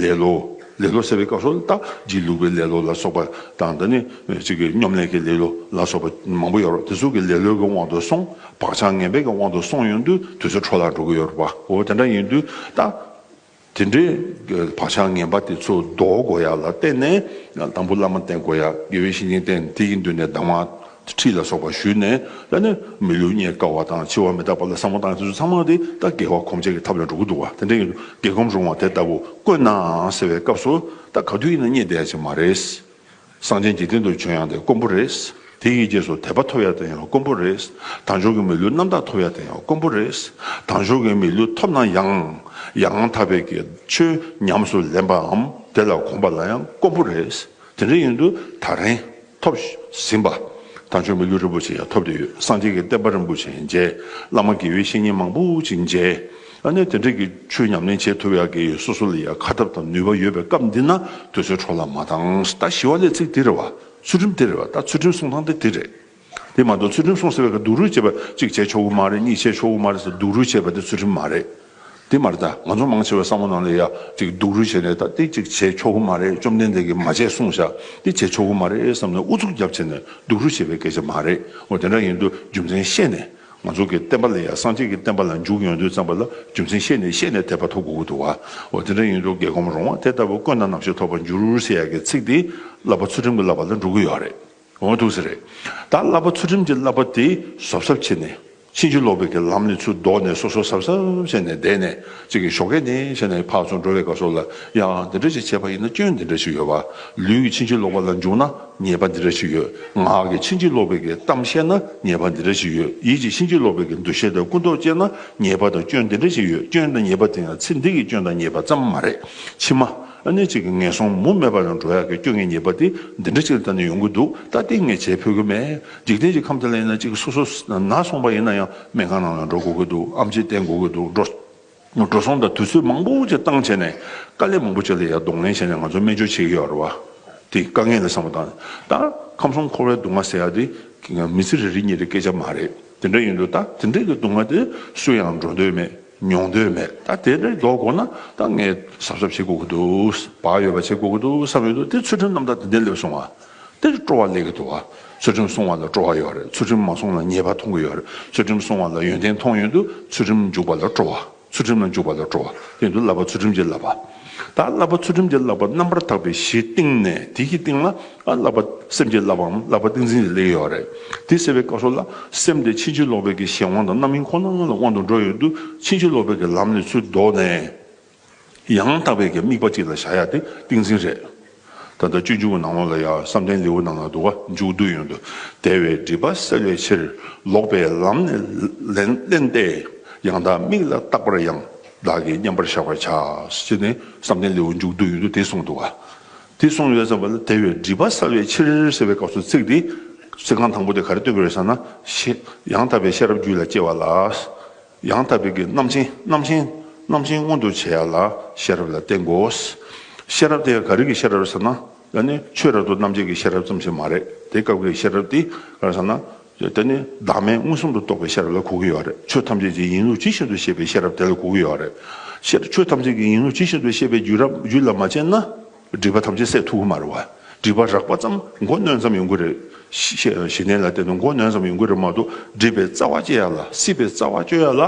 ལེ་ལོ་ལེ་ལོ་ཟེར་བའི་སྐབས་སུ་རྟ་རྒྱིག་ལུག་པའི་ལེ་ལོ་ལ་སོགས་པ་དང་འདི་ནི་གཅིག་གི་སྙོམ་ལས་ཀྱི་ལེ་ལོ་ལ་སོགས་པ་མང་པོ་ཡོད་རོགས་དེ་ཚོ་གི་ལེ་ལོའི་གི་དབང་དུ་སོང་བག་ཆགས་ངན་པའི་གི་དབང་དུ་སོང་ཡོང་དུས་དུས་ཚོད་འཕྲོ་བརླག་འགྲོ་གི་ཡོད་རོགས་པ་འོ་དེ་འདྲ་ཡིན་དུས་ད། དེ་འདྲའི་བག་ཆགས་ངན་པ་དེ་ཚོ་ཟློག་དགོས་ཡ་ལ་བརྟེན་ནས་དང་པོ་བླ་མ་བསྟེན་དགོས་ཡ་དགེ་བའི་བཤེས་གཉེན་བསྟེན་དེ་ཡི་མདུན་ནས་གདམས་ངག་ཁྲིད་ལ་སོགས་པ་ཞུས་ནས་བསླབས་ནས་མི་ལུས་རྙེད་དཀའ་བ་དང་འཆི་བ་མི་རྟག་པ་ལ་བསམ་བློ་བཏང་དེ་ཚོ་ཚང་མ་དེ་ལྟ་དགེ་བ་གོམས་བྱེད་ཀྱི་ཐབས་ལ་འགྲོ་གི་འདུག་བ་དེ་འདྲའི་དགེ་གོམས་རུང་བ་དེ་ལྟ་བུ་དཀོན་ནའང་ཟེར་བའི་སྐབས་སུ་ད་ག་དུས་ཡིན་ན་རྙེད་བསྡད་ཡ་ཆེ་མ་རེད། གསང་ཆེན་འཇིག་རྟེན་དུ་བྱོན་ཡང་དེ་དཀོན་པོ་རེད། དེ་ཡི་རྗེས་སུ་དད་པ་ཐོབ་ཡ་དེ་ཡང་དཀོན་པོ་རེད། དང་ཞོགས་ཀྱི་མི་ལུས་རྣམ་དག་ཐོབ་ཡ་དེ་ཡང་དཀོན་པོ་རེད། དང་ཞོགས་ཀྱི་མི་ལུས་ཐོབ་ན་ཡང། ཡང་དག་པའི་དགེ་ཆོས་ཉམས་སུ་ལེན་པའམ་དེ་ལ་གོམས་པ་ལ་ཡང་དཀོན་པོ་རེད། དེ་འདྲ་ཡིན་དུས་ད་རིང་ཐོབ་ཟིན་པ། དང་ཞོགས་མི་ལུས་རིན་པོ་ཆེ་ཡང་ཐོབ་བསྡད་ཡོད་གསང་ཆེན་གྱི་བསྟན་པ་རིན་པོ་ཆེ་མཇལ། བླ་མ་དགེ་བའི་བཤེས་གཉེན་མང་པོ་ཅིག་མཇལ། ཨ་ནེ་དེ་འདྲས་ཀྱི་ཆོས་ཉམས་ལེན་བྱེད་ཐུབ་ཡག་གི་ཡོད་སོ་སོ་ལ་ཡང་ཁ་ཐབས་དང་ནུས་པ་ཡོད་པའི་སྐབས་འདི་ན་དུས་ཚོད་འཕྲོ་ལ་མ་བཏང་ད་ཞི་བ་ལས་ཚིག་དེ་རེད་བ་ཚུལ་ཁྲིམས་དེ་རེད་བ་ད་ཚུལ་ཁྲིམས་སྲུང་སྟངས་དེ་དེ་རེད་དེ་མ་གཏོགས་ཚུལ་ཁྲིམས་སྲུང་ཟེར་བའི་ཁར་སྡུག་རུས་བྱེད་པ་གཅིག་བྱས་ཆོག་གི་མ་རེད་གཉིས་བྱས་ཆོག་གི་མ་རེད་ཟེར་སྡུག་རུས་བྱེད་པ་དེ་ཚུལ་ཁྲིམས་མ་རེད་དེ་མ་རེད་ད་ང་ཚོ་མང་ཆེ་བའི་བསམ་བློ་ནང་ལ་ཡ་གཅིག་སྡུག་རུས་བྱས་ནས་ད་དེ་གཅིག་བྱས་ཆོག་གི་མ་རེད་བཅོམ་ལྡན་འདས་ཀྱིས་མ་བྱས་གསུངས་བཞག་དེ་བྱས་ཆོག་གི་མ་རེད་བསམ་ནས་ཨུ་ཚུགས་རྒྱབ་བྱས་ནས་སྡུག་རུས་བྱེད་པའི་སྐད་ཆ་མ་རེད་འོ་དེ་འདྲ་ཡིན་དུས་རྒྱུ་མཚན་བཤད་ནས། ང་ཚོ་གི་བསྟན་པ་ལ་ཡང་སངས་རྒྱས་ཀྱི་བསྟན་པ་ལ་འཇུག་ཡོང་དུས་ཙམ་པ་ལ་རྒྱུ་མཚན་ཤེས་ནས་ཤེས་ནས་དད་པ་ཐོབ་དགོས་ཀྱི་འདུག་བ་འོ་དེ་འདྲ་ཡིན་དུས་རྒྱལ་ཁོམ་རོང་བ་དེ་ལྟ་བུ་བཀོད་ན་ནམ་ཞིག་ཐོབ་པར་འགྱུར་ཟེར་ཡག་གི་ཚིག་དེ་བསླབ་པ་ཚུལ་ཁྲིམས་ཀྱི་བསླབ་པ་ལ་འགྲོ་གི་ཡོག་རེད་འོང་ཐུག་ས་རེད་ད་བསླབ་པ་ཚུལ་ཁྲིམས་ཀྱི་བསླབ་པ་དེ་ཟོབ་ཟབ་བྱེད་ནས་ཕྱིན་ཅི་ལོག་པའི་གི་ལམ་ནས་ཚུར་ལྡོག་ནས་སོ་སོ་ཟབ་ཟབ་བྱས་ནས་བསྡད་ནས་ཅིག་གི་ཞོག་གད་ནས་བྱས་ནས་ཕག་ཚོ་འགྲོ་བའི་ག་སོ་ལ་ཡང་འདི་འདྲ་ཅིག་བྱས་པ་ཡིན་ན་སྐྱོན་འདི་འདྲ་ཞིག་ཡོད་བ་ལུས་ཀྱི་ཕྱིན་ཅི་ལོག་པ་ལ་འཇུག་ན། ཉེས་པ་འདི་འདྲ་ཞིག་ཡོད། ངག་གིས་ཕྱིན་ཅི་ལོག་པའི་གི་གཏམ་བཤད་ན་ཉེས་པ་འདི་འདྲ་ཞིག་ཡོད། ཡིད་ཀྱིས་ཕྱིན་ཅི་ལོག་པའི་གི་འདུ་ཤེས་དང་ཀུན་རྟོག་སྐྱེས་ན་ཉེས་པ་དང་སྐྱོན་འདི་འདྲ་ཞིག་ཡོད། སྐྱོན་དང་ཉེས་པ་དེ་ཡང་ཚེ་འདི་གི་སྐྱོན་དང་ཉེས་པ་ཙམ་མ་རེད། ཕྱི་མ། གནས་གཅིག་གི་ངན་སོང་མུ་མེད་པ་དང་འགྲོ་ཡག་གི་སྐྱོ་ངལ་ཉེས་པ་དེ་འདི་འདྲ་ཞིག་ལ་ལྟ་ནས་ཡོང་གི་འདུག་ད་ལྟའི་ངས་བྱེད་ཕོད་ཀྱི་མེད། འཇིག་རྟེན་གྱི་ཁམས་དེ་ལ་ཡིན་ན་གཅིག་སོ་སོ་ན་སོང་པ་ཡིན་ན་ཡང་སྨན་ཁང་ནང་ལ་འགྲོ་དགོས་ཀྱི་འདུག་ཨམ་ཆིས་བསྟེན་དགོས་ཀྱི་འདུག་འགྲོ། འགྲོ་སོང་དང་དུས་ཚོད་མང་པོ་ཅིག་བཏང་བྱས་ནས་དཀའ་ལས་མང་པོ་བྱས་ལ་ཡར་གདོང་ལེན་བྱས་ནས་ང་ཚོ་སྨན་བཅོས་བྱེད་ཀྱི་ཡོད་རེད་བ། དེ་དཀའ་ངལ་ལས་སངས་པ་དང། ད་ཁམས་གསུམ་འཁོར་བའི་སྡུག་བསྔལ་ཟེར་ཡག་དེ་མི་ཚེ་རེ་རེ་གཉིས་རེའི་སྐད་ཆ་མ་རེད། དེ་འདྲ་ཡིན་དུས་ད་དེ་འདྲའི་སྡུག་བསྔལ་དེ་སུ་ཡང་འགྲོ་འདོད་མེད་མྱོང་འདོད་མེད་ད་དེ་འདྲ་ཞིག་འགྲོ་དགོས་ན་ད་ངས་གཟབ་གཟབ་བྱེད་དགོས་ཀྱི་འདུག་བག་ཡོད་པ་བྱེད་དགོས་ཀྱི་འདུག་བསམ་ཡོད་དོ་དེ་ཚུལ་ཁྲིམས་རྣམ་དག་དེ་འདྲས་སླེབས་སོང་བ། འདིར་སྤྲོ་བ་ལས་གི་འདུག་ཨ། ཚུལ་ཁྲིམས་སྲུང་བ་ལ་སྤྲོ་བ་ཡོད་རེད་ཚུལ་ཁྲིམས་མ་སྲུང་ལ་ཉེས་པ་མཐོང་གི་ཡོད་རེད་ཚུལ་ཁྲིམས་སྲུང་བ་ལ་ཡོན་ཏན་མཐོང་ཡོད་འདུག་ཚུལ་ཁྲིམས་འཇུག་པ་ལ་སྤྲོ་བ་ཚུལ་ཁྲིམས་ལ་འཇུག་པ་ལ་སྤྲོ་བ་དེ་འདུག་བསླབ་པ་ཚུལ་ཁྲིམས་ཀྱི་བསླབ་པ། ད་བསླབ་པ་ཚུལ་ཁྲིམས་ཀྱི་བསླབ་པ་རྣམ་པར་དག་པའི་གཞིའི་སྟེང་ནས་དེ་གི་སྟེང་ལ་ཨ་བསླབ་པ་སེམས་ཀྱི་བསླབ་པའམ་བསླབ་པ་ཏིང་འཛིན་གྱི་ལས་ཡོད་རེད་དེ་ཟེར་བའི་བཀའ་སྲོལ་ལ་སེམས་དེ་ཕྱིན་ཅི་ལོག་པའི་གི་གཞན་དབང་དང་རྣམ་སྨིན་ཁོ་ན་ལྔ་ལ་དབང་དུ་འགྲོ་ཡོད་འདུག་ཕྱིན་ཅི་ལོག་པའི་གི་ལམ་ནས་ཚུར་ལྡོག་ནས། ཡང་དག་པའི་དམིགས་པ་གཅིག་ལ་བཞག་ཡག་དེ་ཏིང་འཛིན་རེད། ད་ལྟ་སྤྱོད་འཇུག་གི་ནང་ལོགས་ལ་ཡང་བསམ་གཏན་ལེའུ་ནང་ན་འདུག་ག་འཇུག་བསྡུ་ཡོན་དུ་དལ་བའི་སྒྲིབ་པ་སེལ་བའི་ཕྱིར་ལོག་པའི་ལམ་ནས་བསླན་ཏེ་ཡང་དག་དམིགས་ལ་བཏགས་པར་ཡང་དག་གི་མཉམ་པར་བཞག་པར་བྱ་ཞེས་ནས་བསམ་གཏན་ལེའུ་འཇུག་བསྡུ་ཡོན་དུ་དེ་གསུངས་འདུག་ག། དེ་གསུངས་ཡོད་ཙམ་པ་ལ་དལ་བའི་སྒྲིབ་པ་སེལ་བའི་ཕྱིར་ཟེར་བའི་སྐབས་སུ་ཚིག་དེ། ཚིག་རྐང་དང་པོ་དེ་ག་རེ་སྟོན་པའི་རེད་བསམ་ན། ཡང་དག་པའི་ཤེས་རབ་རྒྱུད་ལ་སྐྱེ་བ་ལ། ཡང་དག་པའི་རྣམ་མཁྱེན་རྣམ་མཁྱེན། རྣམ་མཁྱེན་མངོན་དུ་བྱེད་ཡ་ལ་ཤེས་རབ་ལ་བརྟེན་དགོས། ཤེས་རབ་དེ་ཡང་ག་རིགས་ཀྱི་ཤེས་རབ་ཟེར་ན། དེ་ནི་ཆོས་རབ་ཏུ་རྣམ་འབྱེད་ཀྱི་ཤེས་རབ་ཙམ་ཞིག་མ་རེད་དེ་སྐབས་འགའི་ཤེས་རབ་དེ་གང་ཟེར་ན། དེ་ནི་བདག་མེད་མངོན་སུམ་དུ་རྟོགས་པའི་ཤེས་རབ་ལ་གོ་གི་ཡོད་རེད་ཆོས་ཐམས་ཅད་ཀྱི་ཡིན་ལུགས་ཇི་བཞིན་དུ་ཤེས་པའི་ཤེས་རབ་དེ་ལ་གོ་གི་ཡོད་རེད། ཆོས་ཐམས་ཅད་ཀྱི་ཡིན་ལུགས་ཇི་བཞིན་དུ་ཤེས་པའི་རྒྱུད་ལ་མ་དཔྱད་ན། སྒྲིབ་པ་ཐམས་ཅད་སྲེག་ཐུགས་དབུ་མར་བ། སྒྲིབ་པ་རགས་པ་ཙམ་མགོ་གནོན་ཙམ་ཡོང་གི་རེད། ཞེ་ནས་ལ་བསྟན་ནོ་མགོ་གནོན་ཙམ་ཡོང་གི་རེད་མ་གཏོགས་སྒྲིབ་པའི་རྩ་བ་བཅད་ཡག་ལ་སྲིད་པའི་རྩ་བ་གཅོད་ཡག་ལ།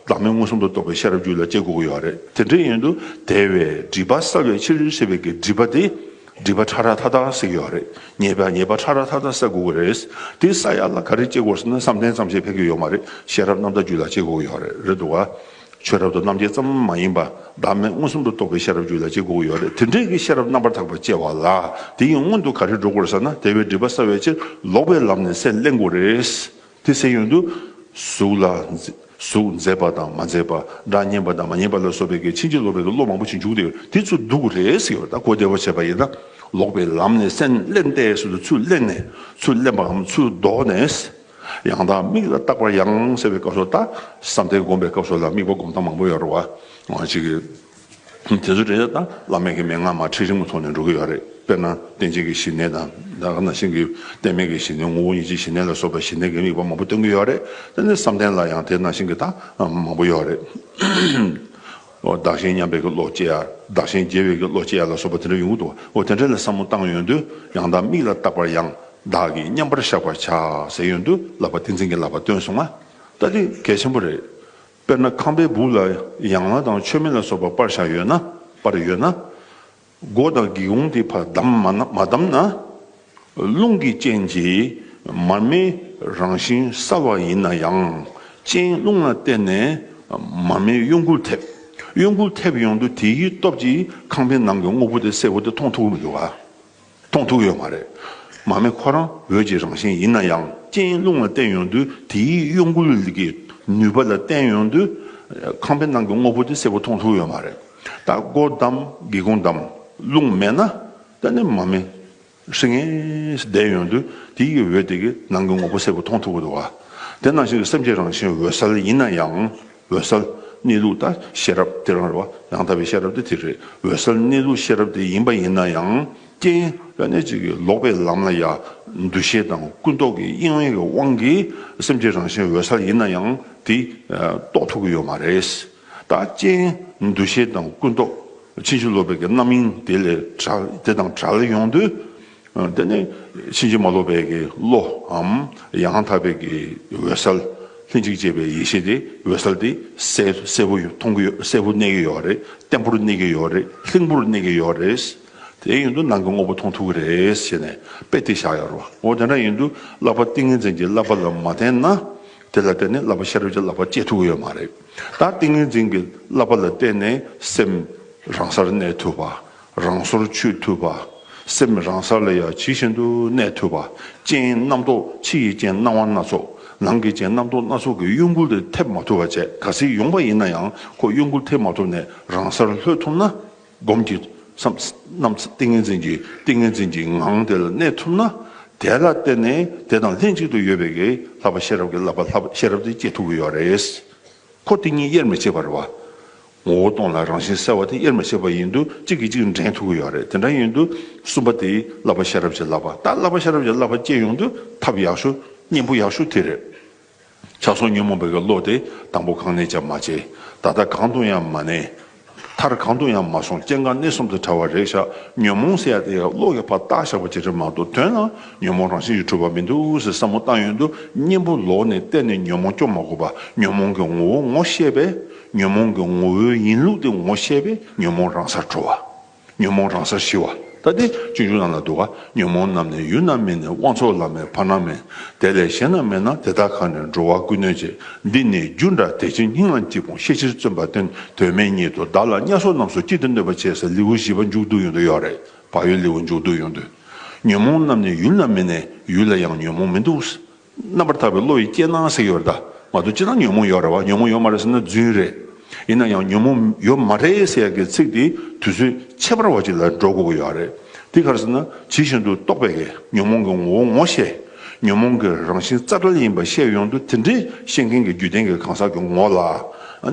བདག་མེད་མངོན་སུམ་དུ་རྟོགས་པའི་ཤེས་རབ་རྒྱུད་ལ་སྐྱེ་དགོས་ཀྱི་ཡོད་རེད་དེ་འདྲ་ཡིན་དུ། དེ་བས་སྒྲིབ་པ་བསལ་བའི་ཕྱིར་སྲེད་པའི་གི་སྒྲིབ་པ་དེ། སྒྲིབ་པ་ཕྲ་རགས་མཐའ་དག་སྲེག་ཡོད་རེད། ཉེས་པ་ཉེས་པ་ཕྲ་རགས་མཐའ་དག་སྲེག་དགོས་ཀྱི་རེད། དེ་བསལ་ཡག་ལ་ག་རེ་སྐྱེ་དགོས་ཟེར་ན་བསམ་གཏན་ཙམ་ཞིག་ཕན་གྱི་ཡོད་མ་རེད་ཤེས་རབ་རྣམ་དག་རྒྱུད་ལ་སྐྱེ་དགོས་ཀྱི་ཡོད་རེད་འདུག་བ། ཆོས་རབ་ཏུ་རྣམ་འབྱེད་ཙམ་མ་ཡིན་པ་བདག་མེད་མངོན་སུམ་དུ་རྟོགས་པའི་ཤེས་རབ་རྒྱུད་ལ་གཅིག་དགོས་ཡོད་རེད་དེ་འབྲེལ་གྱི་ཤེས་རབ་རྣམ་པར་དག་པར་སྐྱེ་བ་ལ་དེ་ཡིན་སྔོན་དུ་ག་རེ་འགྲོ་དགོས་ཟེར་ན་དེ་བས་སྒྲིབ་པ་བསལ་བའི་ཕྱིར་ལོག་པའི་ལམ་ནས་སེམས་གླན་དགོས་རེད་དེ་ཟེར་ཡོང་དུས། གཟུགས་ལ། གཟུགས་མཛེས་པ་དང་མ་མཛེས་པ། སྒྲ་སྙན་པ་དང་མ་སྙན་པ་ལ་སོགས་པའི་གི་ཕྱིན་ཅི་ལོག་པའི་གི་བློ་མང་པོ་ཞིག་འཇུག་དེ་དེ་ཚུར་འདུག་གི་རེད་ཟེར་ཡོང་ད་གོ་བདེ་བོ་བྱས་པ་ཡིན་ན། ལོག་པའི་ལམ་ནས་སེམས་གླན་ཏེ་ཟེར་དུས་ཚུར་གླན་ནས་ཚུར་གླན་པའམ་ཚུར་ལྡོག་ནས། ཡང་དག་དམིགས་ལ་བརྟག་པར་ཡང་ཟེར་བའི་སྐབས་སུ་དང། བསམ་གཏན་བསྒོམ་པའི་སྐབས་སུ་ལ་དམིགས་པ་བསྒོམ་སྟངས་མང་པོ་ཡོད་རེད། འོ་ཅི། དེ་ཚོ་དྲན་བྱ་དང་བླ་མེད་ཀྱི་མན་ངག་མ་ཁྲིད་རིང་མོ་ཐོག་ནས་འགྲོ་གི་ཡོད་རེད། དཔེར་ན་བསྟན་བྱེད་ཀྱི་ཞི་གནས་དང། ད་ག་ན་ཤིང་གི་གཏད་མེད་ཀྱི་ཞི་གནས་ངོ་བོ་ཉིད་ཀྱི་ཞི་གནས་ལ་སོགས་པའི་ཞི་གནས་ཀྱི་དམིགས་པ་མང་པོ་སྟོན་གྱི་ཡོད་རེད། དེ་ནས་བསམ་གཏན་ལ་ཡང་དེ་ནང་བཞིན་གྱི་དང་མང་པོ་ཡོད་རེད། བདག་གཞན་མཉམ་པའི་གི་བློ་སྐྱེ། བདག་གཞན་རྒྱལ་བའི་གི་བློ་སྐྱེ་ལ་སོགས་པ་དེ་འདྲ་ཡོང་གི་འདུག་བ་དེ་འདྲ་ལས་བསམ་བློ་བཏང་ཡོན་དུ་ཡང་དག་མིག་ལ་བརྟག་པར་ཡང་དག་གིས་མཉམ་པར་བཞག་པར་བྱ་ཟེར་ཡོན་དུ་ལབ་པ་ཏིང་འཛིན་གྱི་ལབ་པ་སྟོན་སོང་ང་ལྟ་དེ་གལ་ཆེན་པོ་རེད། དཔེར་ན་ཁང་པའི་སྦུག་ལ་ཡང་ལ་དང་མཆོད་མེ་ལ་སོགས་པ་པར་བཞག་ཡོད་ན་པར་ཡོད་ན། སྒོ་དང་སྒེའུ་ཁུང་དེ་བར་མ་བསྡམས་ན། རླུང་གི་རྐྱེན་གྱིས་མར་མེའི་རང་བཞིན་གསར་བ་ཡིན་ན་ཡང་རྐྱེན་རླུང་ལ་བརྟེན་ནས་མར་མེའི་གཡོ་འགུལ་ཐེབས། གཡོ་འགུལ་ཐེབས་ཡོང་དུས་དེའི་སྟོབས་ཀྱིས་ཁང་པའི་ནང་གི་དངོས་པོ་དེ་གསལ་བོ་དེ་མཐོང་ཐུབ་ཡོད། མཐོང་ཐུབ་ཡོད་མ་རེད། མར་མེ་ཁོ་རང་འོད་ཀྱི་རང་བཞིན་ཡིན་ན་ཡང་རྐྱེན་རླུང་ལ་བརྟེན་ཡོང་དུས་དེའི་གཡོ་འགུལ་གྱི་ནུས་པ་ལ་བརྟེན་ཡོང་དུས་ཁང་པའི་ནང་གི་དངོས་པོ་དེ་གསལ་བོ་མཐོང་ཐུབ་ཡོད་མ་རེད། ད་སྒོ་བསྡམས་སྒེའུ་ཁུང་བསྡམས་རླུང་མེད་ན་ད་ནི་མ་མེད་ཧྲི་ངེ་བསྡད་ཡོང་དུས་དེ་ཡི་འོད་དེ་གིས་ནང་གི་ངོ་བོ་གསལ་པོ་མཐོང་ཐུབ་འདུག་དེ་ནང་བཞིན་གྱི་སེམས་ཀྱི་རང་བཞིན་འོད་གསལ་ཡིན་ན་ཡང་འོད་གསལ་གནས་ལུགས་དང་ཤེས་རབ་དེ་རང་རེད་བ་ཡང་དག་པའི་ཤེས་རབ་དེ་དེ་རེད་འོད་གསལ་གནས་ལུགས་ཤེས་རབ་དེ་ཡིན་པ་ཡིན་ན་ཡང་རྐྱེན་ད་ནི་གཅིག་གིས་ལོག་པའི་ལམ་ལ་ཡ་འདུ་ཤེས་དང་ཀུན་རྟོག་གི་གཡེང་བའི་དབང་གིས་སེམས་ཀྱི་རང་བཞིན་འོད་གསལ་ཡིན་ན་ཡང་དེ་རྟོགས་ཐུབ་ཀྱི་ཡོད་མ་རེད། བདག་རྐྱེན་འདུ་ཤེས་དང་ཀུན་རྟོག་ཕྱིན་ཅི་ལོག་པའི་རྣམ་སྨིན་དེ་ལས་དེ་དང་བྲལ་ཡོང་དུས་དེ་ནི་ཕྱིན་ཅི་མ་ལོག་པའི་བློའམ་ཡང་དག་པའི་འོད་གསལ་ལྷན་ཅིག་སྐྱེས་པའི་ཡེ་ཤེས་དེ་འོད་གསལ་དེ་གསལ་བོ་མཐོང་གི་ཡོད་གསལ་བོ་གནས་ཀྱི་ཡོད་རེད་བརྟན་པོར་གནས་ཀྱི་ཡོད་རེད་ལྷིང་པོར་གནས་ཀྱི་ཡོད་རེད། དེ་ཡིན་དུ་ནང་གི་དངོས་པོ་མཐོང་ཐུབ་ཀྱི་རེད་ཞེས་ནས་དཔེ་དེ་བཞག་ཡོད་རེད། འོ་དེ་འདྲ་ཡིན་དུས་བསླབ་པ་ཏིང་ངེ་འཛིན་གྱི་བསླབ་པ་ལ་མ་བརྟེན་ན་དེ་ལ་བརྟེན་ནས་བསླབ་པ་ཤེས་རབ་ཀྱི་བསླབ་པ་སྐྱེ་ཐུབ་ཀྱི་ཡོད་མ་རེད། ད་ཏིང་ངེ་འཛིན་གྱི་བསླབ་པ་ལ་བརྟེན་ནས་སེམས་རང་སར་གནས་ཐུབ་པ། རང་སོར་ཆུད་ཐུབ་པ། སེམས་རང་ས་ལ་ཡང་ཇི་བཞིན་དུ་གནས་ཐུབ་པ་ཅན་རྣམ་རྟོག་ཕྱི་ཡི་རྐྱེན་སྣང་བ་སྣ་ཚོགས་ནང་གི་རྐྱེན་རྣམ་རྟོག་སྣ་ཚོགས་ཀྱི་གཡོ་འགུལ་ཐེབས་མ་ཐུབ་པ་བཅས་ག་སྲིད་ཡོང་པ་ཡིན་ན་ཡང་ཁོ་གཡོ་འགུལ་ཐེབས་མ་ཐུབ་ནས་རང་སར་ལྷོད་ཐུབ་ན། སྒོམ་གྱི་རྣམས་ཏིང་ངེ་འཛིན་གྱི་ཏིང་ངེ་འཛིན་གྱི་ངང་དེ་ལ་གནས་ཐུབ་ན། དེ་ལ་བརྟེན་ནས་དེ་དང་ལྷན་ཅིག་ཏུ་ཡོད་པའི་ལྷག་པ་ཤེས་རབ་ཀྱི་བསླབ་པ་ལྷག་པ་ཤེས་རབ་དེ་སྐྱེ་ཐུབ་ཀྱི་ཡོད་རེད། འཁོར་དེ་གཉིས་དབྱེར་མི་ཕྱེད་པར་བ། ངོ་བོ་སྟོང་ལ་རང་བཞིན་གསལ་བ་དེ་དབྱེར་མི་ཕྱེད་པ་ཡིན་དུ་གཅིག་གིས་གཅིག་འདྲེན་ཐུབ་ཀྱི་ཡོད་རེད་དེ་འདྲ་ཡིན་དུ་གསུམ་པ་དེ་བསླབ་པ་ཤེས་རབ་ཀྱི་བསླབ་པ་ད་བསླབ་པ་ཤེས་རབ་ཀྱི་བསླབ་པ་སྐྱེ་ཡོང་དུས་ཐབས་ཡག་ཤོས་སྙིང་པོ་ཡག་ཤོས་དེ་རེད། ཆགས་སོང་ཉོན་མོངས་པའི་བློ་དེ་དང་པོ་གང་ནས་ཀྱང་མ་སྐྱེས། ད་ལྟ་གང་དུ་ཡང་མ་གནས། མཐར་གང་དུ་ཡང་མ་སོང་སྐྱེ་འགག་གནས་གསུམ་དུ་ཕྲ་བ་རེག་བྱ་ཉོན་མོངས་ཟེར་ཡ་དེ་ཡང་བློ་ཡོད་པར་བཏགས་བཞག་པ་ཇི་འདྲའི་མང་དུ་ཐོན་ན་ཉོན་མོངས་རང་བཞིན་གྱིས་འཁྲུལ་བ་མི་འདུག་ཟེར་བསམ་བློ་བཏང་ཡོད་འདུག་གཉེན་པོ་ལོག་ནས་གཏན་ནས་ཉོན་མོངས་སྐྱོབ་མ་དགོས་པ་ཉོན་མོངས་ཀྱི་ངོ་བོ་ངོ་ཤེས་པས་ཉོན་མོངས་ཀྱི་ངོ་བོའི་ཡིན་ལུགས་དེ་ངོ་ཤེས་པས་ཉོན་མོངས་རང་སར་གྲོལ་བ། ཉོན་མོངས་རང་སར་ཞི་བ་ལྟ་སྟེ་སྤྱོད་འཇུག་རྣམས་ལ་འདུ་བ་ཉོན་མོངས་རྣམས་ནི་ཡུལ་རྣམས་མེད་ནས་དབང་ཚོགས་ལ་མེད་བར་སྣང་མེད་དེ་ལས་གཞན་རྣམས་མེད་ན་དེ་དག་གང་ནས་འགྲོ་བ་ཀུན་གནོད་ཅེས་འདི་ནི་རྒྱུ་འདྲ་དེ་ཕྱིར་སྙིང་ལ་འཇིགས་སྤོང་ཤེས་ཕྱིར་བརྩོན་པ་སྟོན་དོན་མེད་ཉིད་དུ་བདག་ལ་དམྱལ་སོགས་རྣམས་སུ་གཅིག་ཏུ་གནོད་པར་བྱས་ས་ལེའུ་བཞི་པ་མཇུག་བསྡུ་ཡོང་དུ་ཡོད་རེད་བག་ཡོད་ལེའུ་མཇུག་བསྡུ་ཡོང་དུས། ཉོན་མོངས་རྣམས་ནི་ཡུལ་རྣམས་མེད་ནས་ཡུལ་ལ་ཡང་ཉོན་མོངས་མི་འདུག། རྣམ་པར་དག་པའི་བློ་ཡིས་སྐྱེས་སྣང་ཟེར་ཡོད་རེད་ད། མ་གཏོགས་ཅི་ལྟར་ཉོན་མོངས་ཡོད་རེད་བ། ཉོན་མོངས་ཡོད་མ་རེད་ཟེར་ན་རྫུན་རེད། ཡིན་ན་ཡང་ཉོན་མོངས་ཡོད་མ་རེད་ཟེར་ཡག་གི་ཚིག་དེ་དུས་ཚོད་ཕྱེད་པར་བ་ཅིག་ལ་འགྲོ་དགོས་ཀྱི་ཡོད་རེད། དེ་གར་ཟེར་ན་ཇི་བཞིན་དུ་རྟོགས་པའི་གེགས་ཉོན་མོངས་ཀྱི་ངོ་བོ་ངོ་ཤེས། ཉོན་མོངས་ཀྱི་རང་བཞིན་རྩ་བྲལ་ཡིན་པ་ཤེས་ཡོང་དུས་དེ་འདྲའི་ཤེས་མཁན་གྱི་རྒྱུད་ལྡན་གྱི་གང་ཟག་གི་ངོ་ལ།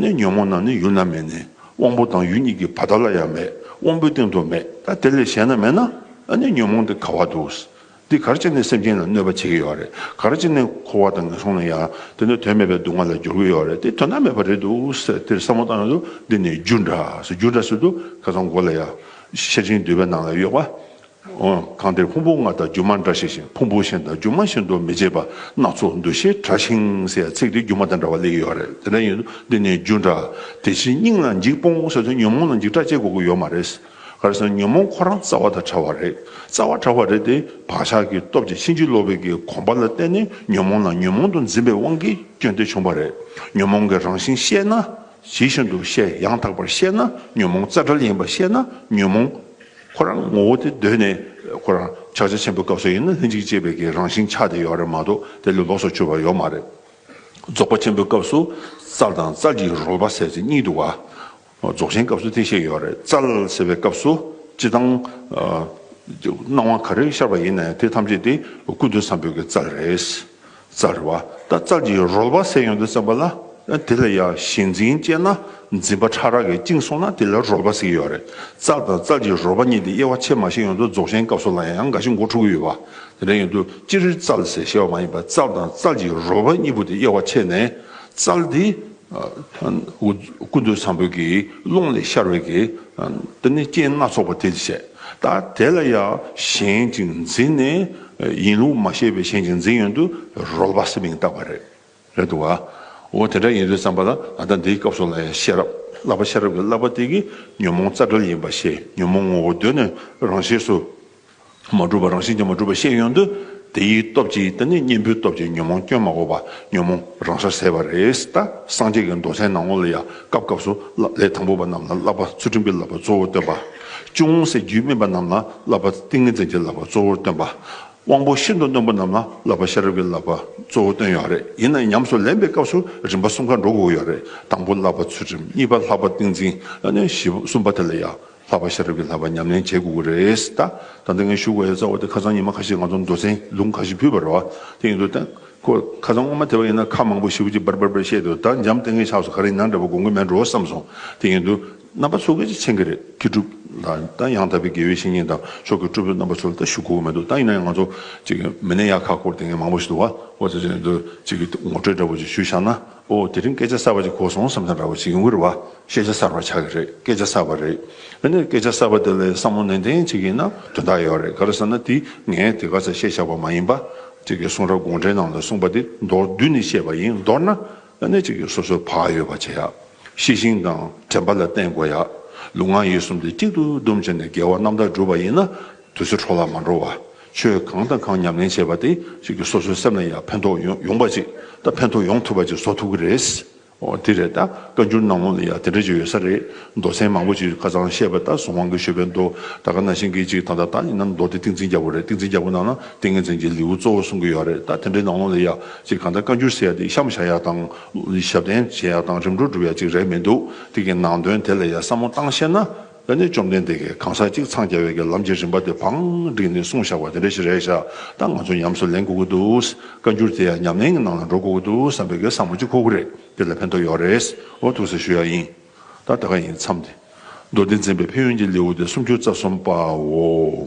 ནི་ཉོན་མོངས་རྣམས་ནི་ཡུལ་ན་མེད་ནས་དབང་པོ་དང་ཡུལ་གཉིས་ཀྱི་བར་དག་ལ་ཡང་མེད་དབང་པོའི་སྟེང་དུ་མེད་ད་དེ་ལས་གཞན་ན་མེད་ན། ནི་ཉོན་མོངས་དེ་ག་བར་འདུག། འདི་གར་སྤྱད་ནས་སེམས་ཅན་ལ་གནོད་པ་བྱེད་ཀྱི་ཡོད་རེད་གར་སྤྱད་ནས་འཁོར་བ་དང་ངན་སོང་ལ་ཡང་དེ་འདྲ་དོན་མེད་པའི་སྡུག་བསྔལ་ལ་སྦྱོར་གྱི་ཡོད་རེད་དེ་དོན་དག་མེད་པ་རེད་འདུག་ཟེར་དེར་བསམ་བློ་བཏང་ཡོང་དུས་འདི་ནི་རྒྱུ་འདྲ་ཟེར་རྒྱུ་འདྲ་ཟེར་དུས་ཁ་སང་མགོ་ལ་ཡ། ཤེར་ཕྱིན་འདུས་པའི་ནང་ལ་གཡོག་པ། འོན་ཀང་དེར་ཕུང་པོ་ལྔ་དང་སྒྱུ་མ་འདྲ་ཞིག་བཞིན་ཕུང་པོ་གཞན་དང་སྒྱུ་མ་བཞིན་དུ་མི་བྱེད་པ་སྣ་ཚོགས་འདུ་ཤེས་དྲག་ཞིང་ཟེར་ཡ་ཚིག་དེ་སྒྱུ་མ་དང་འདྲ་བ་ལེགས་ཡོད་རེད་དེ་འདྲ་ཡིན་དུས་འདི་ནི་རྒྱུ་འདྲ་དེ་ཕྱིས་སྙིང་ལ་འཇིགས་སྤོང་ཟེར་དུས་ཉོན་མོངས་ལ་འཇིགས་སྐྲག་སྤྱད་དགོས་ཀྱི་ཡོད་མ་རེད། གར་སོང་ཉོན་མོངས་ཁོ་རང་རྩ་བ་དང་བྲལ་བ་རེད། རྩ་བ་བྲལ་བ་རེད་དེ། བག་ཆགས་ཀྱི་སྟོབས་ཀྱིས་ཕྱིན་ཅི་ལོག་པའི་གི་གོམས་པ་ལ་བརྟེན་ནས་ཉོན་མོངས་ལ་ཉོན་མོངས་དུ་འཛིན་པའི་དབང་གིས་སྐྱོན་དེ་བྱུང་བ་རེད། ཉོན་མོངས་ཀྱི་རང་བཞིན་ཤེས་ན། ཇི་བཞིན་དུ་ཤེས་ཡང་དག་པར་ཤེས་ན་ཉོན་མོངས་རྩ་བྲལ་ཡིན་པར་ཤེས་ན་ཉོན་མོངས། ཁོ་རང་ངོ་བོ་དེ་གདོད་ནས་ཁོ་རང་ཕྱག་རྒྱ་ཆེན་པོའི་སྐབས་སུ་ཡིན་ན་ལྷན་ཅིག་སྐྱེས་པའི་གི་རང་བཞིན་ཆགས་བསྡད་ཡོད་རེད་མ་གཏོགས་དེ་ལས་ལོགས་སུ་གྱུར་བ་ཡོད་མ་རེད། རྫོགས་པ་ཆེན་པོའི་སྐབས་སུ་རྩལ་དང་རྩལ་གྱི་རོལ་པ་ཟེར་ཚེ་གཉིད་འདུག་ག། རྫོགས་ཆེན་སྐབས་སུ་དེ་བཤད་ཡོད་རེད། ཙལ་ཟེར་བའི་སྐབས་སུ་ཅི་དང། སྣང་བ་ག་རེ་ཤར་བ་ཡིན་ན་ཡང་དེ་ཐམས་ཅད་དེ་ཀུན་ཏུ་བསམ་པའི་གི་ཙལ་རེད། ཙལ་རེད་བ། ད་ཙལ་གྱི་རོལ་བ་ཟེར་ཡོང་དུ་བསམ་པ་ལ། དེ་ལ་ཡང་ཞེན་འཛིན་བཅས་ན་འཛིན་པ་ཕྲ་རགས་ཀྱིས་བཅིངས་སོང་ན་དེ་ལ་རོལ་བ་ཟེར་གྱི་ཡོད་རེད། ཙལ་དང་ཙལ་གྱི་རོལ་བ་གཉིས་དེ་དབྱེ་བ་ཕྱེད་མ་ཤེས་ཡོང་དུ་རྫོགས་ཆེན་སྐབས་སུ་ལ་ཡང་འགའ་ཞིག་མགོ་འཁྲུག་གི་ཡོད་བ། དེ་འདྲ་ཡོང་དུ་ཅི་རེད་ཙལ་ཟེར་ཤེས་བ་མ་ཡིན་པར་ཙལ་དང་ཙལ་གྱི་རོལ་བ་གཉིས་པོ་དེ་དབྱེ་བ་ཕྱེད་ནས་ཙལ་དེ། ཀུན་ཏུ་བཟང་པོའི་ཀློང་ལས་ཤར་བའི་རྟེན་སྣ་ཚོགས་པ་དེ་བྱས། ད་དེ་ལ་ཡང་གཞན་ཅིག་འཛིན་ནས་ཡིན་ལུགས་མ་ཤེས་པའི་གཞན་ཅིག་འཛིན་ཡོན་དུ་རོལ་བ་སེམས་མིང་བཏགས་པ་རེད། རེད་འདུག་ག། འོ་དེ་འདྲ་ཡིན་དུས་བསམ་པ་ལ་ང་ད་འདིའི་སྐབས་སོགས་ལ་ཡང་ཤེས་རབ་བསླབ་པ་ཤེས་རབ་ཀྱི་བསླབ་པ་དེ་གིས་ཉོན་མོངས་རྩ་བྲལ་ཡིན་པ་ཤེས་ཉོན་མོངས་ངོ་བོ་གདོད་ནས་རང་ཤེས་སུ། མ་གྲུབ་པ་རང་བཞིན་གྱིས་མ་གྲུབ་པ་ཤེས་ཡོང་དུས་དེ་ཡི་སྟོབས་ཀྱིས་དེ་ནི་གཉེན་པོའི་སྟོབས་ཀྱིས་ཉོན་མོངས་སྐྱོན་མ་འགོག་པ་ཉོན་མོངས་རང་སར་ཟད་པ་རེད་ད་སངས་རྒྱས་ཀྱི་མདོ་ཚན་ནང་ངོ་ལ་ཡ་སྐབས་སྐབས་སུ་ལས་དང་པོ་པ་རྣམས་ལ་བསླབ་པ་ཚུལ་ཁྲིམས་ཀྱི་བསླབ་པ་གཙོ་བོར་སྟོན་པ། ཅུང་ཟད་རྒྱུས་སྨིན་པ་རྣམས་ལ་བསླབ་པ་ཏིང་ངེ་འཛིན་གྱི་བསླབ་པ་གཙོ་བོར་སྟོན་པ། དབང་པོ་ཤིན་ཏུ་རྣོན་པོ་རྣམས་ལ་བསླབ་པ་ཤེས་རབ་ཀྱི་བསླབ་པ་གཙོ་བོར་སྟོན་ཡོད་རེད་ཡིན་ན་ཉམས་སུ་ལེན་པའི་སྐབས་སུ་རིམ་པ་གསུམ་ཀ་འགྲོ་དགོས་ཀྱི་ཡོད་རེད་དང་པོ་བསླབ་པ་ཚུལ་ཁྲིམས་གཉིས་པ་ལྷག་པ་ཏིང་འཛིན་བཞི་བ་གསུམ་པ་དེ་ལ་ཡ། ལྷག་པ་ཤ་རབ་ཀྱི་ལྷག་པ་ཉམས་ལེན་བྱེད་དགོས་ཀྱི་རེད་ད། ད་ལྟ་ངས་ཞུ་དགོས་ཡོད་རྩ་བ་དེ་ཁ་སང་ཉི་མ་ཁ་ཤས་ང་ཚོ་མདོ་ཚན་ལུང་ཁ་ཤས་ཕུད་པར་རོ། དེ་ཡིན་དུས་ད། ཁོ། ཁ་སང་སྔོན་མ་དེ་བ་ཡིན་ན་ཁ་མང་པོ་ཞིབ་ཅིག་འབར་འབར་འབར་བཤད་དུས་ད་འཇམ་ལྟས་ངན་ཆགས་སོང་ག་རེ་ཡིན་ན་འདྲ་པོ་དགོངས་ཀྱི་མེད་འགྲོ་བསམ་སོང། དེ་ཡིན་དུས། རྣམ་པ་ཚོ་གལ་ཆེ་མཁན་གྱི་རེད་མཁས་གྲུབ། ད་ད་ཡང་དག་པའི་དགེ་བའི་བཤེས་གཉེན་དང་ཕྱོགས་ཀྱི་སྤྲུལ་པའི་རྣམ་པ་ཚོ་ལ་ད་ཞུ་དགོས་ཀྱི་མེད་འདུག་ད་ཡིན་ན་ཡང་ང་ཚོ། ཅིག། མི་སྣའི་ཡ་ཁ་སྐོར་ལྟས་ངན་མང་པོ་ཞིག་འདུག་བ། འོ་ད་དེ་ཡིན་དུས། ཅིག་གི་ངོ་སྤྲོད་འདྲ་པོ་ཞིག་ཞུ་བཞག་ན། ཨོ་དེ་རིང་སྐད་ཆ་གསར་བ་ཅིག་གོ་སོང་བསམ་ས་འདྲ་བོ་ཞིག་ཡོང་གི་རེད་བ་ཤེས་བྱ་གསར་བ་ཆགས་ཀྱི་རེད་སྐད་ཆ་གསར་བ་རེད་དེ་ནས་སྐད་ཆ་གསར་བ་དེ་ལ་བསམ་བློ་ནན་ཏན་བྱེད་ཀྱི་ན་དོན་དག་ཡོད་རེད་ག་རེ་ཟེར་ན་དེ་ངས་དེ་ག་ཚད་བཤད་བཞག་པ་མ་ཡིན་པ་ཅིག་གི་གསུང་རབ་དགོངས་འགྲེལ་ནང་ལ་གསུངས་པ་དེ་མདོར་བསྡུས་ནས་བཤད་པ་ཡིན་མདོར་ན་ཨ་ནེ་ཅིག་གིས་སོ་སོའི་བག་ཡོད་པ་བྱེད་ཡག་ཤེས་ཤིང་དང་དྲན་པ་ལ་བརྟེན་དགོས་ཡག་ལུས་ངག་ཡིད་གསུམ་དེ་གཅིག་ཏུ་བསྡོམས་བྱས་ནས་དགེ་བ་རྣམ་དག་བསྒྲུབ་པ་ཡིན་ན་དུས་ཚོད་འཕྲོ་བརླག་མ་འགྲོ་བ། ཆོས་གང་དང་གང་ཉམས་ལེན་བྱེད་པ་དེ་ཞིག་གིས་སོ་སོའི་སེམས་ལ་ཡང་ཕན་ཐོགས་ཡོང་པ་ཅིག་དང་ཕན་ཐོགས་ཡོང་ཐུབ་པ་ཅིག་བཟོ་ཐུབ་ཀྱི་རེད། འོ་དེ་རེད་ད་བཀའ་འགྱུར་ནང་ལོགས་ལ་ཡང་དེ་འདྲ་ཅིག་ཡོད་ས་རེད། མདོ་ཚན་མང་པོ་ཅིག་ཁ་ཚང་བཤད་པ་ད་སོང་དབང་གི་ཤོད་པའི་མདོ་ད་ག་ན་ཤིང་གི་ཅིག་དང་ད་ད་ཡིན་ན་མདོ་དེ་ཏིང་འཛིན་རྒྱ་བོ་རེད་ཏིང་འཛིན་རྒྱ་བོ་ནང་ན་ཏིང་ངེ་འཛིན་གྱི་ལེའུ་གཙོ་བོ་གསུང་གི་ཡོད་རེད་ད་དེ་འདྲའི་ནང་ལོགས་ལ་ཡག་ཅིག་གང་ལྟར་བཀའ་འགྱུར་ཟེར་ཡག་དེ་གཤམ་བཞག་ཡག་དང། ཞབས་བརྟན་བྱེད་ཡག་དང་རིམ་གྲོ་སྒྲུབ་ཡག་ཅིག་རེད་མི་འདུག་དེ་གི་ནང་དོན་དེ་ལ་ཡང་བསམ་བློ་བཏང་ཤེས་ན། ད་ནི་བཅོམ་ལྡན་འདས་ཀྱིས་གང་ཟག་གཅིག་འཚང་རྒྱ་བའི་གྱི་ལམ་གྱི་རིམ་པ་དེ་བང་བསྒྲིགས་ནས་གསུངས་བཞག་པ་དེ་འདྲ་ཞིག་རེད་བཞག་ད་ང་ཚོ་ཉམས་སུ་ལེན་དགོས་ཀྱི་འདུག་བཀའ་འགྱུར་དེ་ཡང་ཉམས་ལེན་གྱི་ནང་ལ་འགྲོ་དགོས་ཀྱི་འདུག་བསམ་པའི་གྱི་བསམ་བློ་གཅིག་ཁོག་པོ་རེད་དེ་ལ་ཕན་ཐོགས་ཡོད་རེད་འོ་ཐུགས་གཟིགས་ཞུ་ཡག་ཡིན་ད་ད་ག་ཡིན་མཚམས་དེ། མདོ་སྡེ་འཛིན་པའི་ཕན་ཡོན་གྱི་ལེའུ་སྟེ་སུམ་ཅུ་རྩ་གསུམ་པའོ།